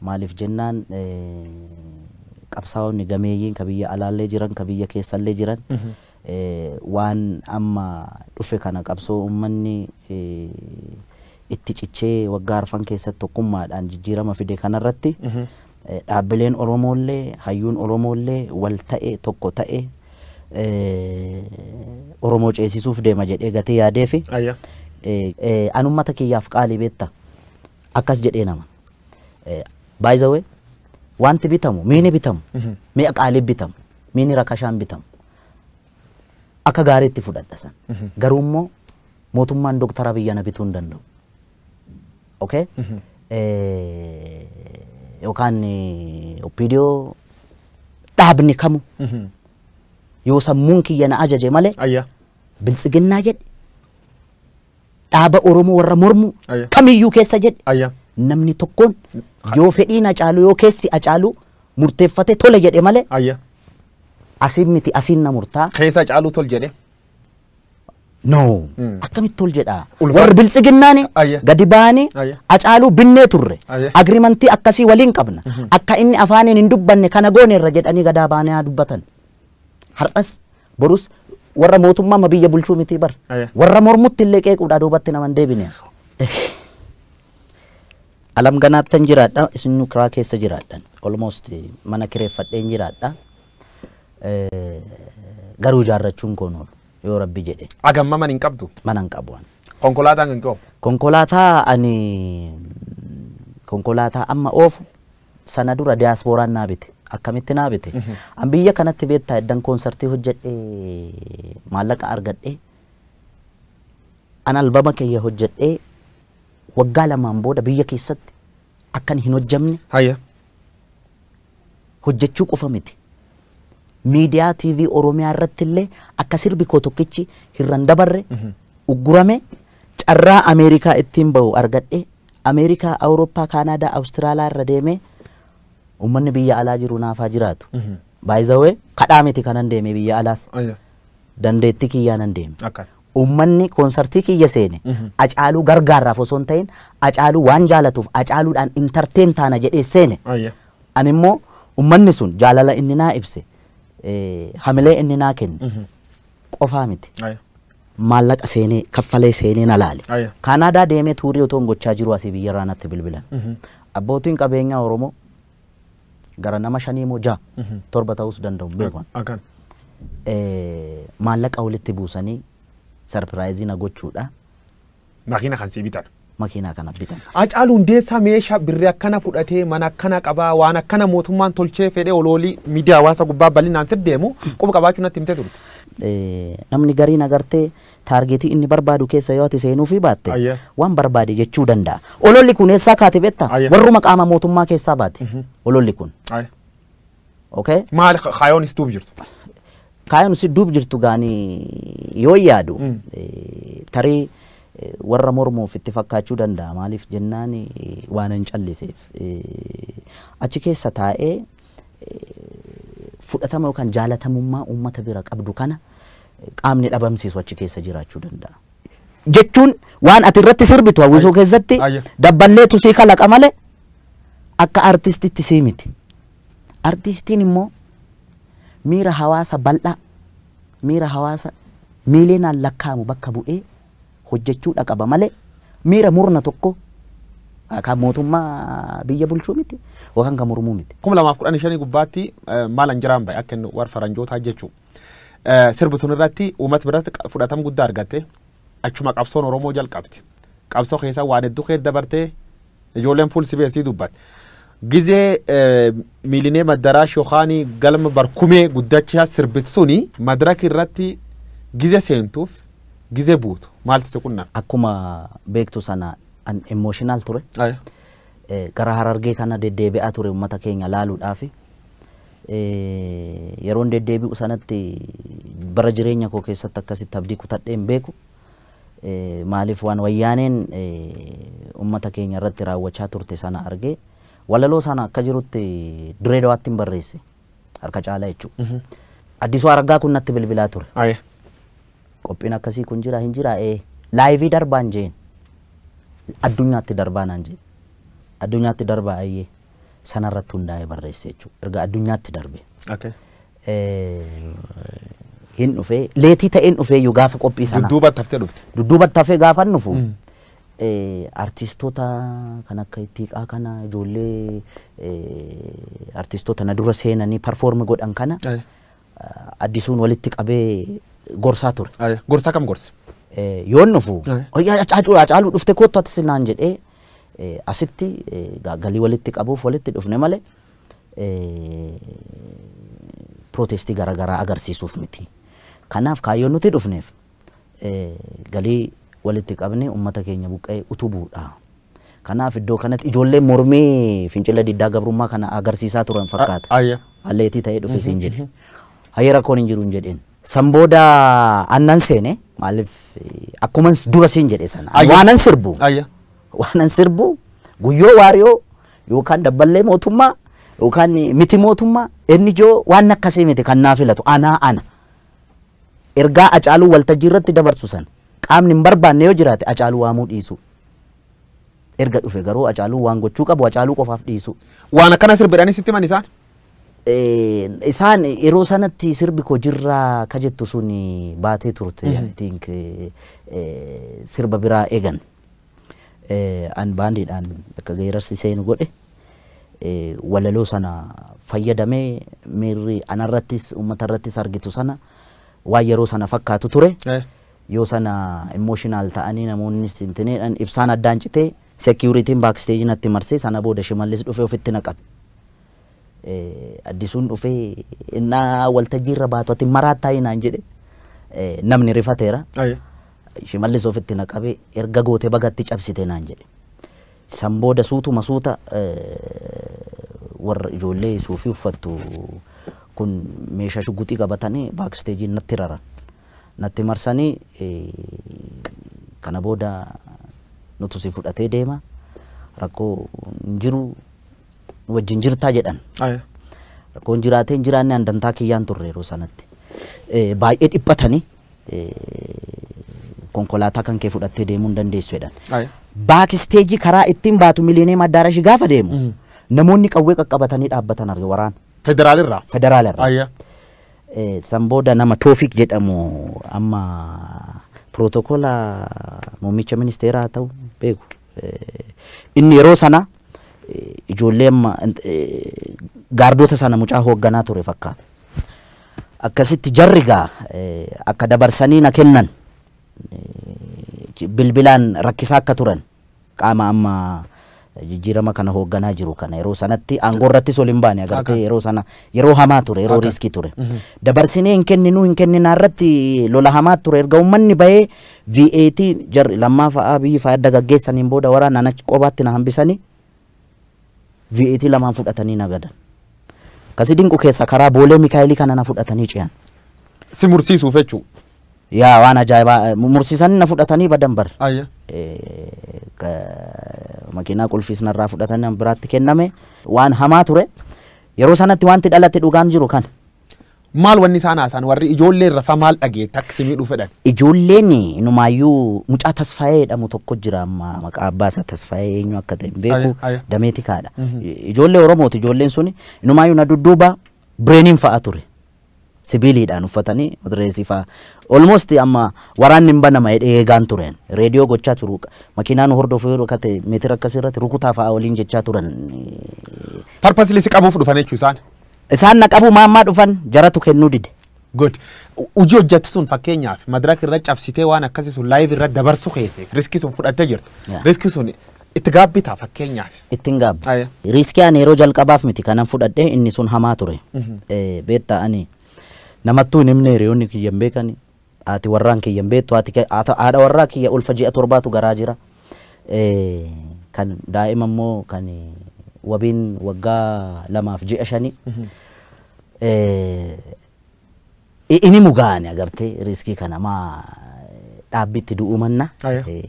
Maaliif jennaan qabsaa'onni gameeyyiin ka biyya alaallee jiran ka biyya keessallee jiran waan amma dhufe kana qabsoo ummanni itti cichee waggaa arfan keessatti tokkummaadhaan jijjiirama fide kanarratti dhaabbileen Oromoollee hayyuun Oromoollee wal ta'e tokko ta'e Oromoo ceesisuuf deema jedhee gatee yaadee fi an ummata kiyyaaf qaalii beetta akkas jedhee nama. By the way, wanti bitamu, miini bitamu, mi'a qaalii bitamu, miini rakashaan bitamu. Akka gaariitti fudhadha san. Garuu immoo mootummaan Dooktar Abiyyi ana bituu hin danda'u. Okay? Eh, Yookaan eh, Oppiidiyoo dhaabni kamu yoo sammuun kiyya na ajaje malee Ayyaa. biltsiginnaa jedhe dhaaba Oromoo warra mormu Ayya. kamiyyuu keessa jedhe Ayya. namni tokkoon yoo fedhiin acaaluu yoo keessi acaaluu murteeffate tole jedhe malee Ayya. asiin miti asiin na murtaa Keessa caaluu tol jedhe. no Mm. akkamitti tol jedha Ulfa- warri biltsiginnaani Ayya. gadi ba'anii Ayya. acaaluu binnee turre Ayya. agrimantii akkasii waliin qabna akka inni afaaniin hin dubbanne kana gooneerra jedhanii gadaa baanee haa dubbatan Har'as borus warra mootummaa ma biyya bulchuu mitii bar. Aya. Warra mormutti illee qeequudhaa duubatti nama hin deebine. Alam ganaattan jiraadha isin kiraa keessa jiraadhan. Almost eh, mana kireeffadheen jiraadha. Eh, Garuu ijaarrachuun koo noolu yoo rabbi jedhe Agamma man hin qabdu. mana hin qabu. ani. Konkolaataan kan qabu. Konkolaataa ani konkolaataa amma oofu sana dura diyaaspooraan naa bite. Akkamitti naa bite? An biyya kanatti beektaa eddan koonsartii hojjedhee maallaqa argadhee an albama kiyya hojjedhee waggaa lamaan booda biyya keessatti akkan hin hojjamne Haya. hojjechuu qofa miti. Miidiyaa TV Oromiyaa irratti illee akka sirbi koo tokkichi hirran dabarre uggurame Carraa Ameerikaa ittiin bahu argadhee Ameerikaa, Awurooppaa, Kaanaadaa, Awustiraalaa irra deemee uummanni biyya alaa jiru naaf haa jiraatu. By the way, kadhaa miti kanan deeme biyya alaas. Ayya. Dandeettii kiyyaanan deeme. Akkan. Uummanni koonsartii kiyya seene Acaaluu gargaarraaf osoo hin ta'in Acaaluu waan jaalatuuf Acaaluudhaan intarteen taana jedhee seene. Ayya. Ani immoo uummanni sun jaalala inni naa ibse eh, hamilee inni naa kenne qofaa miti. Ayya. maallaqa seenee kaffalee seenee na laale. Aya. Kaanaadaa deemee tuurii otoon gochaa jiru asii biyyarraa natti bilbilan. Abbootiin qabeenyaa Oromoo gara nama shanii moo ja'a torba ta'uus danda'u hin beeku. Akan. Eh, Maallaqa walitti buusanii sarpiraayizii na gochuudha. Makiina kan sii bitan. makiinaa kana bitan. Hacaaluu Hundeessaa meeshaa birrii akkana fudhatee mana akkana qabaa waan akkana mootummaan tolchee fedhee oloolii miidiyaa hawaasaa gubbaa bal'inaan sif deemu quba qabaachuu natti himtee turte. Eh, Namni gariin agartee taargeetii inni barbaadu keessa yoo ati seenuufii baatte Ayyee. waan barbaade jechuu danda'a. Ololli kun eessaa kaate beektaa? Ayyee. Warruma qaama mootummaa keessaa baate. Ololli kun. Ayi. okay Maali ka- kaayoon is duub jirtu? kaayoon si duub jirtu gaani yoo yaadu eh, tarii eh, warra mormuuf itti fakkaachuu danda'a maaliif jennaan eh, waan hin calliseef Eh, achi keessa taa'ee fudhatama yookaan jaalatamummaa uummata bira qabdu kana eh, qaamni dhabamsiisu achi keessa jiraachuu danda'a. Jechuun waan ati irratti sirbitu hawwisoo keessatti Ayya. dabballeetu sii kalaqa malee akka artistitti sii miti. Artiistiin immoo miira hawaasa bal'aa, miira hawaasa miiliyoonaan lakkaa'amu bakka bu'ee hojjechuudha qaba malee miira murna tokko kan mootummaa biyya bulchuu miti yookaan kan mormuu miti. 2015 gubbaatti eh, maal an jiraan bahe akka inni warra faranjootaa jechuu. Eh, Sirbi tun irratti uummata biratti qa- fudhatama guddaa argatte. Achuma qabsoon Oromoo jalqabde. Qabsoo keessa waan hedduu keessa dabartee ijoolleen fuul sibee sii dubbatte. Gizee eh, miilinee maddaraa shokaanii galma barkumee guddachaa sirbitu suni madraki irratti gize seentuuf gize buutu maaltu si qunname? Akkuma beektu sana an emotional ture. Eh, Gara harargee kana deddeebi'aa ture uummata keenya laaluudhaafi. Yeroon deddeebi'u sanatti bara jireenya koo keessatti akkasitti abdii kutadhee hin beeku. Maaliif waan wayyaaneen uummata keenya irratti raawwachaa turte sana argee walaloo sana akka jirutti Dirree Dawaatti hin barreesse harka caalaa jechuudha. Addisuu Araggaa kun natti bilbilaa ture. Aye. Qophiin akkasii kun jira hin jira ee laayivii darbaan jeen addunyaatti darbaa naan jeen addunyaatti darbaa ayyee. sana irratti hundaa'ee barreesse jechuudha. Erga addunyaatti darbe. Okay. Hin dhufee leetii ta'een dhufee iyyuu gaafa qophii sana. Dudduuba taftee dhufte. Dudduuba tafee gaafa hin dhufu. Artistoota kan akka ittiiqaa kana ijoollee artistoota na dura seenanii parfoormi godhan kana addisuun walitti qabee gorsaa ture. Gorsaa kam gorsi? Yoon dhufu. Haacaaluu dhufte koottu ati sinaan jedhee. asitti egaa galii walitti qabuuf walitti dhufne malee pirootestii garaagaraa agarsiisuuf miti. Kanaaf kaayyoon nuti dhufneef galii walitti qabnee uummata keenya buqqa'ee utubuudha. Kanaaf iddoo kanatti ijoollee mormii fincila diddaa gabrummaa kana agarsiisaa turan fakkaata. Alleetii ta'ee dhufe siin jedhe. Hayyee rakkoon hin jiru hin jedhin. San booda annan seene maaliif akkuman dura siin jedhe sana ani Ayya. waanan sirbu Ayya. waanan sirbu guyyoo waariyoo yookaan dabballee mootummaa yookaan miti mootummaa inni ijoo waan akkasii miti kan naa filatu anaa ana ergaa acaaluu waltajjii irratti dabarsu san qaamni hin barbaanne yoo jiraate acaaluu waamuu dhiisu erga dhufe garuu acaaluu waan gochuu qabu acaaluu qofaaf dhiisu Waan akkana sirbidhanii sitti himan isaan. Isaan yeroo sanatti sirbi koo jirraa ka jettu sun baatee turte. I think sirba biraa eegan. An baandiidhaan akka geerarsi seenu godhe. Walaloo sana fayyadamee miirri anarrattis uummatarrattis argitu sana waan yeroo sana fakkaatu ture. Yoo sana emotional ta'anii namoonnis intineedhan ibsaan addaan citee security'n backstage natti marsee sana booda shimallis dhufee ofitti na qabe. Addisuun dhufee innaa waltajjii irra baatu ati maraattaa inaan jedhe namni rifateera. Aye. Shimallis ofitti na qabe erga goote bagatti cabsite naan jedhe. San booda suutuma suuta warra ijoollee suufii uffattu kun meeshaa shuguxii qabatanii baaksteejiin natti raran. natti marsanii kana booda nutu si fudhatee deema rakkoo hin jiru nu wajjin jirtaa jedhan. Aya. Rakkoon jiraatee hin jiraanne handantaa kiyyaan turre yeroo sanatti. Eh, Baay'ee dhiphatanii eh, konkolaataa kan kee fudhattee deemuu hin dandeessu jedhan. Aya. Baakisteejii karaa ittiin baatu miliineem addaarashi gaafa deemu namoonni qawwee qaqqabatanii dhaabbatan arge waraana Federaalirraa. federaalaa irraa. Aya. San booda nama Toofiq jedhamu amma pirootokola muummicha ministeeraa haa ta'u beeku. Inni yeroo sana ijoollee amma gaardoota sana mucaa hoogganaa ture fakkaata. Akkasitti jarri gaa akka dabarsanii na kennan bilbilaan rakkisaa akka turan Qaama amma jijjiirama kana hoogganaa jiru kana yeroo sanatti aangoorrattis ol hin baane agartee yeroo sana yeroo hamaa ture yeroo riiskii ture. Dabarsinee hin kenninuu hin kenninaa irratti lola hamaa ture erga uummanni bahee VAT jarri lammaa fa'aa biyyi fa'aa adda gaggeessaniin booda waraana na qobaatti na hambisanii VAT lamaan fudhatanii na gadan. Kasi dinqu keessa karaa boolee Mikaa'elii kana na fudhatanii ce'an. Si mursiisuuf jechuudha. Yaa waan ajaa'ibaa eh, mu- mursiisanii na fudhatanii badan bar. Ayya. Eh, ka- makiinaa qulfiis narraa fudhatanii an biraatti kenname waan hamaa ture. Yeroo sanatti wanti dhalate dhugaan jiru kan Maal wanni isaan haasaan warri ijoollee irra fa maal dhageetta akka si miidhuu fedhan. ijoolleen numaayyuu mucaa tasfaayee jedhamu tokko jira amma maqaa abbaa isaa tasfaayee eenyu akka ta'e hin beeku Aya, aya. dameetikaadha. Ijoollee Oromooti ijoolleen suni numaayyuu na dudduuba Bireeniin fa'a ture. Sibiiliidhaan uffatanii matireesii fa'a. Almost amma waraanni hin banama jedhee eegaan tureen. Reediyoo gochaa turu. Makiinaa nu hordofu yoo dhokate meetira akkasii irratti rukutaa fa'a waliin jechaa turan. Parpasli si qabuuf dhufan jechuu isaan. Isaan na qabu maammaa dhufan jaratu kennuu dide. Good. Hojii hojjettu sun fakkeenyaaf madirak irra cabsitee waan akkasii sun laayiv irra dabarsu keetiif riskii sun fudhattee jirta. Yeah. Riskii sun itti gaabbitaa fakkeenyaaf. ittiin gaabba. Aya. Riiskii ani yeroo jalqabaaf miti kanan fudhadhe inni sun hamaa ture. Eh, Beektaa ani namattuu hin himne hiriyoonni kiyya hin beekani. Haati warraan kiyya hin beektu haati kee- haata- haadha warraa kiyya ulfa ji'a torbaatu garaa jira. Eh, Kan daa'ima immoo kan wabiin waggaa lamaaf ji'a shanii. Eh, ini mugaani agartee riskii kana maa dhaabbitti du'uu manna Aya. Eh,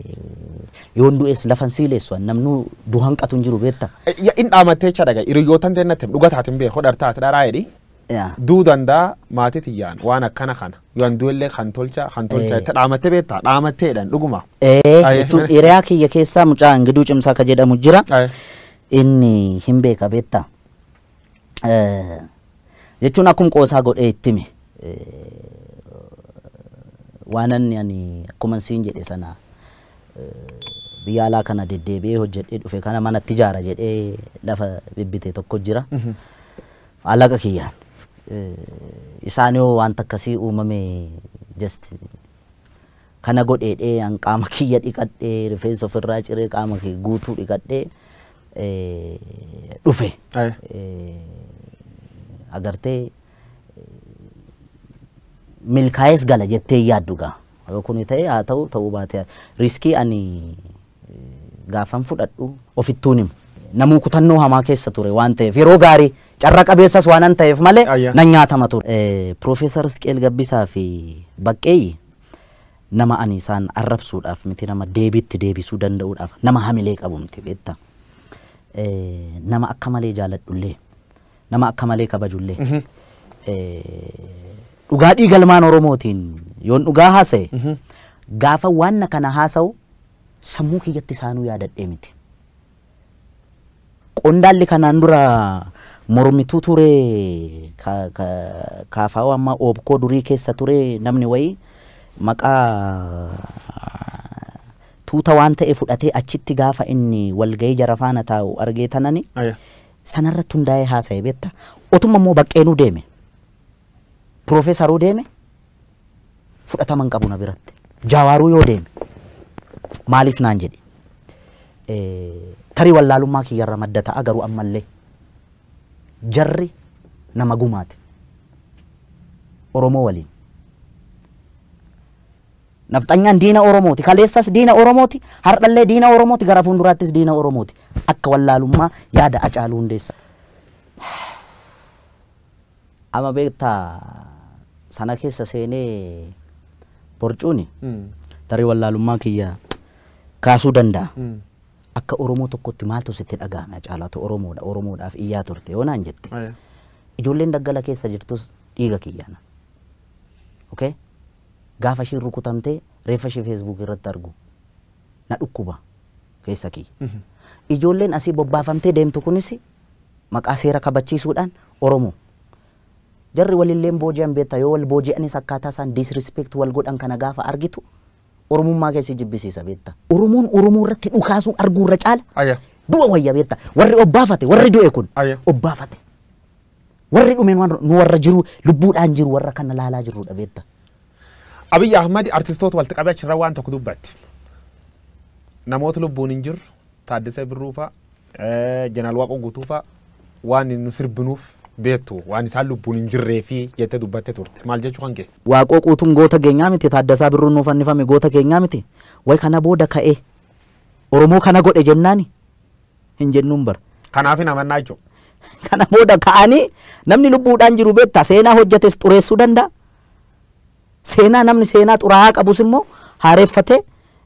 yoon du'es lafan siileessu an namnuu du hanqatu hin jiru beetta Ya in dhaamattee cha dhaga hiriyootan tee natti dhuga taatin bee hodhar taat dharaa jedhi. Ya. Duu dandaa maatii tiyyaan waan akkana kana yoon du'ellee kan tolcha kan tolcha Eh. itti dhaamattee beektaa dhaamatteedhaan dhuguma. Eh, Aya. jechuun hiriyaa kiyya keessaa mucaa ingiduu cimsaa ka jedhamu jira Aya. inni hin beeka beetta jechuun akkum qoosaa godhee itti hime waan anni ani akkuman siin jedhe sana biyya alaa kana deddeebi'ee hojjedhee dhufe kana manatti ijaara jedhee lafa bibbite tokko jira. Alaqa kiyyaan. Isaan yoo wanta akkasii uumame just Kana godheedhee an qaama kiyya dhiqadhee rifeensa ofirraa ciree qaama kiyya guutuu dhiqadhee eh, dhufe. Aye. Eh, Agartee milkaa'ees gala jettee yaaddu gaa. Yoo kuni ta'e haa ta'u ta'uu baatee riiskii ani gaafan fudhadhu ofittuun himu. Namuu kutannoo hamaa keessa ture waan ta'eef yeroo gaarii carra qabeessas waanan ta'eef malee Ayya. nan nyaatama ture. Eh, Piroofeesar Isqeel Gabbisaa fi Baqqeeyyi nama ani isaan arrabsuudhaaf miti nama deebiitti deebisuu danda'uudhaaf nama hamilee qabu miti beektaa. Eh, Nama akka malee jaaladhullee. nama akka malee kabajullee dhugaa dhiiga ilmaan Oromootiin yoon dhugaa haasa'e gaafa waan kana haasa'u sammuu kiyyatti isaanuu yaadadhee miti. Qondaalli kanaan dura mormituu ture kaafaawaa ammaa oobkoo durii keessa ture namni wayii maqaa tuuta waan ta'e fudhatee achitti gaafa inni walgahii jara faana taa'u argee tanani Sanarratti hundaa'ee haasa'e beekta. Otuma immoo baqqeenuu deeme. Piroofeesaruu deeme fudhatama hin qabu na biratti. Jaawaaruu yoo deeme maaliif naan jedhi. Eh, Tarii wallaalummaa kiyyarra madda ta'a garuu ammallee jarri nama gumaati. Oromoo waliin. Nafxanyaan diina Oromooti. Kaleessas diina Oromooti, hardhallee diina Oromooti, gara fuunduraattis diina Oromooti. Akka wallaalummaa yaada Acaaluu Hundeessa. Ama beekta sana keessa seenee borcuuni tarii wallaalummaa kiyya kaasuu danda'a. Akka Oromoo tokkotti maaltu sitti dhaga'ame Acaaluu ati Oromoodha Oromoodhaaf iyyaa turte yoo naan jette. Ijoolleen daggala keessa jirtus dhiiga kiyyaana. Okay? Gaafa ishiin rukutamte reeffa ishii Facebook irratti argu na dhukkuba keessa kiyya. Ijoolleen asii bobbaafamtee deemtu kunis maqaa seera kabachiisuudhaan Oromoo. Jarri walilleen booji'an beekta yoo wal booji'anis akkaataa isaan disrespect wal godhan kana gaafa argitu Oromummaa kee si jibbisiisa beekta. Oromoon Oromoo irratti dhukaasuu arguu irra caala Aya. du'a wayya beekta. Warri obbaafate warri du'e kun Aya. obbaafate. Warri dhume nu nu warra jiru lubbuudhaan jiru warra kana laalaa jirrudha beekta. Abiy Ahmad artistoota walitti qabee achirra waan tokko dubbatti. Namoota lubbuun hin jirru Taaddasee Birruu fa'a, eh, Jeneraal Waaqoo Guutuu fa'a waan nu sirbinuuf beektu waan isaan lubbuun hin jirree fi jettee dubbattee turte. Maal jechuu kan kee? Waaqoo Guutuun goota keenyaa miti Taaddasaa Birruun nuuf fannifame goota keenyaa miti. Way kana booda ka'ee Oromoo kana godhe jennaani hin jennuun bar. Kanaaf hin amannaa jechuudha. Kana booda ka'anii namni lubbuudhaan jiru beektaa seenaa hojjetes xureessuu danda'a. Seenaa namni seenaa xuraa'aa qabus immoo haareeffatee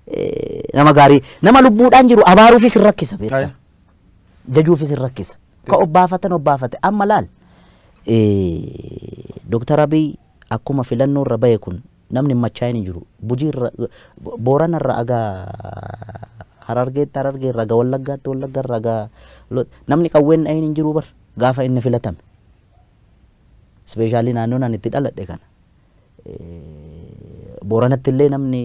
eh, nama gaarii nama lubbuudhaan jiru abaaruufis hin rakkisa beektaa. Ayi. jajuufis hin rakkisa. Ka obbaafatan obbaafate amma laal. Eh, Dooktar Abiy akkuma filannoo irra bahe kun Namni hin machaa'in hin jiru. Gujii irra, Boorana irra aga Harargeetti, Harargee irra aga Wallaggaatti, Wallagga irra aga Lo- namni qawween dhahin hin jiru bar gaafa inni filatame. Ispeeshaalii naannoon ani itti dhaladhe kana. Eh, Booranatti illee namni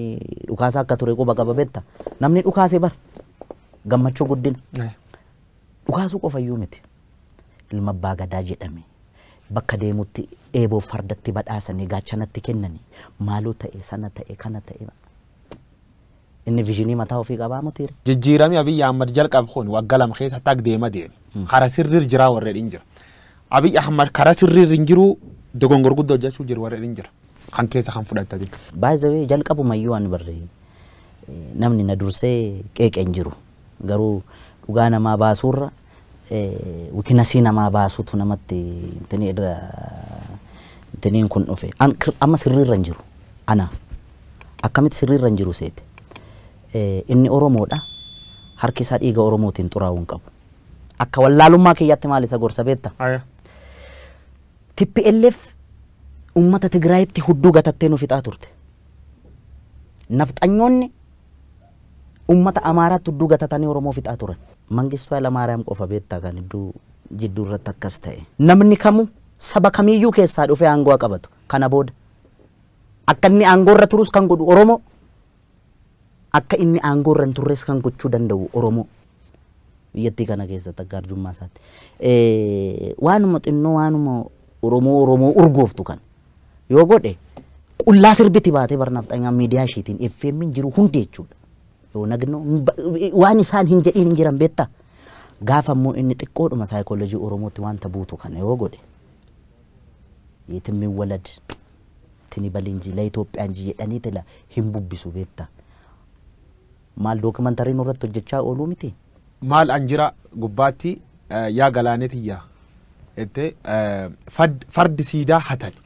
dhukaasaa akka ture quba qaba betta. Namni dhukaase bar gammachuu guddina. Dhukaasuu qofayyuu miti. Ilma abbaa gadaa jedhame. Bakka deemutti eeboof fardatti badhaasanii gaachanatti kennanii maaloo ta'e sana ta'e kana ta'e inni vizhinii mataa ofii qabaa mutiire. Jijjiirami Abiy Ahmad jalqab kun wagga lam keessa tag deema deeme. Kara sirrir jiraa warri dhin jira. Abiy Ahmad kara sirrir hin jiruu dogongor gudda hojjachuu jiru warri dhin jira. Kan keessa kan fudhattati. By the way jalqabuma iyyuu ani barri namni na dursee qeeqe hin jiru. Garuu dhugaa namaa baasuurra wikinasii namaa baasutu namatti intinii irra intiniin kun dhufe An- kir- amma sirriirra hin jiru anaaf akkamitti sirriirra hin jiru seete Eh, inni oromoodha harki isaa dhiiga oromootiin xuraa'uu hin qabu akka wallaalummaa kiyyaatti maal isa gorsa beekta Aya. TPLF uummata Tigraayitti hudduu gatattee nu fixaa turte. Nafxanyoonni Ummata Amaaraatti hudduu gatatanii Oromoo fixaa turan. Mangistuu Haylamaariyaam qofa beektaa kan hidduu jidduu irratti akkas ta'e. Namni kamuu saba kamiiyyuu keessaa dhufee aangoo haa qabatu. Kana booda akka inni aangoo irra turus kan godhu Oromoo, akka inni aangoo irra hin turres kan gochuu danda'u Oromoo. biyyattii kana keessatti akka arjummaa isaatti. Eh, Waanuma xinnoo waanuma Oromoo Oromoo urgooftu kan yoo godhe qullaa sirbiti baatee barnaafxanyaa miidiyaa ishiitiin FM'n jiru hundi jechuudha. Yoo nagnoo hin ba- waan isaan hin jedhiin hin jiran beektaa. Gaafa immoo inni xiqqoodhuma saayikoolojii Oromootti wanta buutu kana yoo godhe yeetimmiin walad tini balinji la Itoophiyaan ji jedhanii tila hin bubbisu beektaa. Maal documentary nurratti hojjechaa ooluu mitii? Maal an jira gubbaatti yaa galaanee tiyya jette fardi siidaa hatani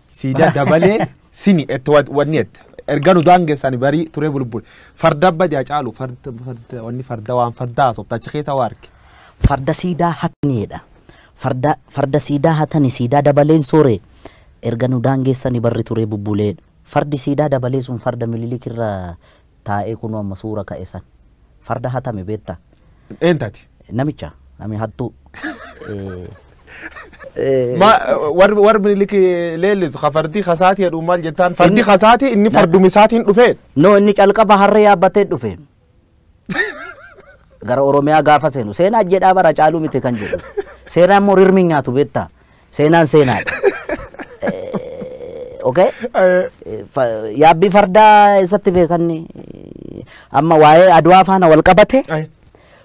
siidaa dabalee sini jette wanni jette erga nu daangessani barii turee bulbule farda badi hacaalu farda wanni farda waan farda haasofta achi keessa waa arge. Farda siidaa hatani jedha. Farda farda siidaa hatani siidaa dabaleen soore erga nu daangessani barri turee bubbulee. Fardi siidaa dabalee sun farda minilik irra taa'ee kunoo amma suura ka'e san. Farda hatame beektaa? Eentati. Namicha nami hattuu. War minilik leellisu ka fardi kasaatii jedhu maal jettaan? Fardi kasaatii inni farduma isaatiin dhufee? No inni calqaba harree yaabbatee dhufe. gara Oromiyaa gaafa seenu seenaa jedhaa bara caaluu miti kan jedhu seenaan immoo rirmi nyaatu beektaa seenaan seenaadha. Eh, Okay? Eh, Eh, fa- Yaabbii fardaa eessatti beekanni amma waa'ee adwaa faana wal qabate ay,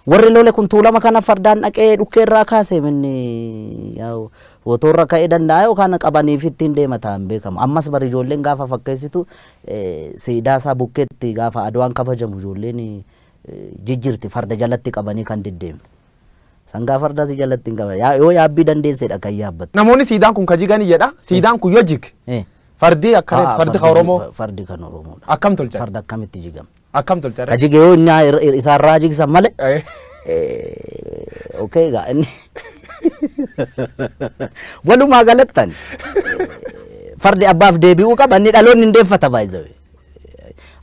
warri lole kun tuulama kana fardaan dhaqee dhukkee irraa kaase minni yaa'u wotoorra ka'ee danda'a yookaan qabaniif ittiin deema ta'an beekamu ammas bari ijoolleen gaafa fakkeessitu Siidaa isaa bukkeetti gaafa Adwaan kabajamu ijoolleen jijjirti farda jalatti qabanii kan deddeemtu. Sangaa fardaa si jalatti hin qaban. Yaa- Yoo yaabbii dandeessedha kan yaabbattu. Namoonni siidaan kun ka jiganii jedha. Siidaan kun yoo jige Eh. fardii akka Haa, fardi ka Oromoo fa- Fardi kan Oromoodha. akkam tolchan? Farda akkamitti jigama? Akkam tolcha Ka irra. jige yoo inni ir- ir- isaa irraa jigsan malee. Eh, Eh, Okay egaa inni. Walumaa galattan. eh, Fardi abbaaf deebi'uu qaba inni dhaloonni hin deeffata baay'ee.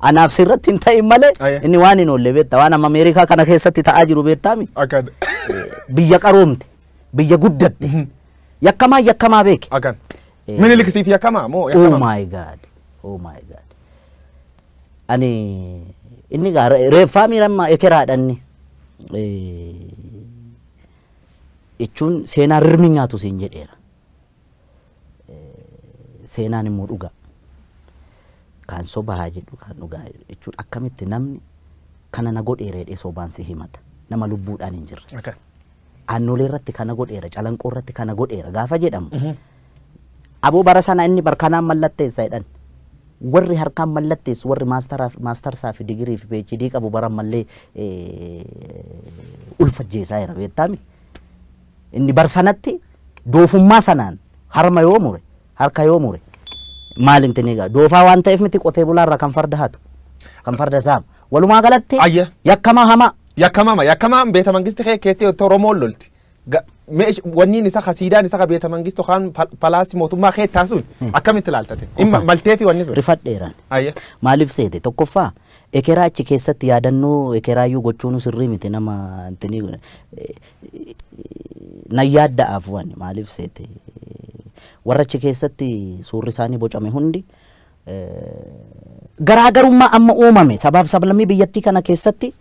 Anaaf sirratti hin ta'in malee Aye. inni waan hin oolle beekta waan amma Ameerikaa kana keessatti ta'aa jiru beektaami. Akkan. Biyya qaroomte biyya guddatte yakkamaa yakkamaa beeke. Akkan. Eh. Minilik siif yakkamaa moo Oh yakkamaa? my god. Oh my god. Ani inni gaa re- reeffaa miirammaa ekeraadha inni. Eh, Jechuun seenaa rirmi nyaatu siin jedheera. Seenaan immoo dhugaa. Kaan soba haa jedhu kaan dhugaa jechuun akkamitti namni kana na godheera jedhee sobaan si himata. Nama lubbuudhaan hin jirre. Okay. Aannolee irratti kana godheera, Calanqoo irratti kana godheera gaafa jedhamu aboo bara sana inni barkanaan mallatteessa jedhan. Warri harkaan mallatteessu warri maastaraaf- maastarsaa fi digirii fi PhD qabu bara ammallee eh, ulfa ajjeesaa jira beektaami. Inni bar sanatti doofummaa sanaan harma yoo mure Harka yoo mure maal hin tini egaa doofaa waan ta'eef miti qotee bulaa irraa kan farda hatu kan farda saama walumaa galatti Ayya. yakkamaa hamaa yakkamama yakkamaan beeta mangisti kee keetti otto oromoon lolti Ga- meesh- wanniin isa kasiidaan isa ka beeta mangistu kaan pal- palaasi mootummaa kee taasuun akkamitti ilaaltate Imma- maltee fi wanni sun rifadheeraan Ayya. maaliif seete tokkoffaa ekeraa achi keessatti yaadannoo ekeraayyuu gochuun sirrii miti nama intini nan yaadda'aaf wani maaliif seete warra achi keessatti suurri isaanii bocame hundi garaagarummaa amma uumame sabaaf sablammii biyyattii kana keessatti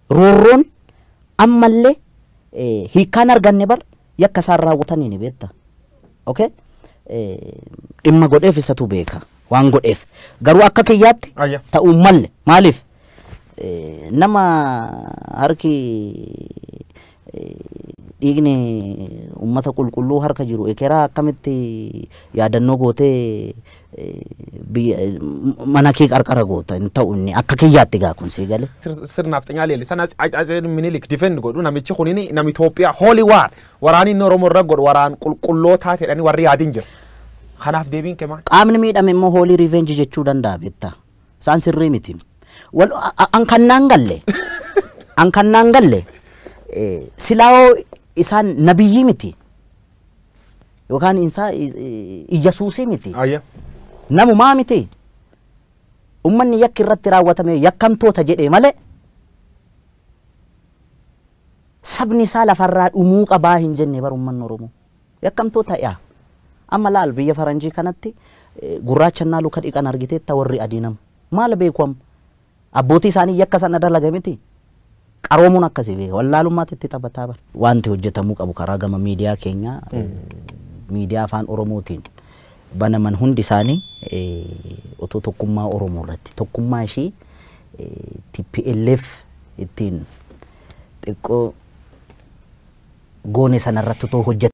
roorroon ammallee hiikkaan arganne bar yakka isaan raawwatanii ni beekta. Okay? Dhimma godheef isatu beeka waan godheef garuu akka kiyyaatti ta'uu malle maaliif Eh, Nama harki eh, dhiigni uummata qulqulluu harka jiru ekeraa akkamitti yaadannoo gootee eh, biyya- eh, mana kee qarqara goota hin ta'u inni akka kiyyaatti gaa kun sii galee. sir- sirnaaf xinyaa leellisan as- as- as- minilik difend godhu namichi kun nam Itoophiyaa hooli waan waraanni inni Oromoo irra godhu waraan qulqullootaa jedhanii warri yaadin jiru. Kanaaf deebiin kee maal? Qaamni miidhame immoo hoolii riveenji jechuu danda'a beektaa. Isaan sirrii miti. Wal- a- a- An kan naan galle. An kan naan galle. eh, Silaa hoo isaan nabiyyii miti. Yookaan isaa iyyasuusii miti. Ayya. Namumaa miti. Ummanni yakki irratti raawwatame yakkamtoota jedhee malee sabni isaa lafarraa dhumuu qabaa hin jenne bar ummanni Oromoo. Yakkamtoota yaa. Amma laal biyya faranjii kanatti gurraacha ennaa luka dhiqan argiteetta warri adii nam. Maal beeku amma? Abbootii isaanii yakka sana dalaga miti. Qaroomuun akkasii beeka. Wallaalummaatti itti taphataa bar. Wanti hojjetamuu qabu karaa gama miidiyaa keenyaa miidiyaa afaan Oromootiin banaman hundi isaanii otoo tokkummaa Oromoo irratti tokkummaa ishii TPLF ittiin xiqqoo goone sana irratti otoo hojjatanii.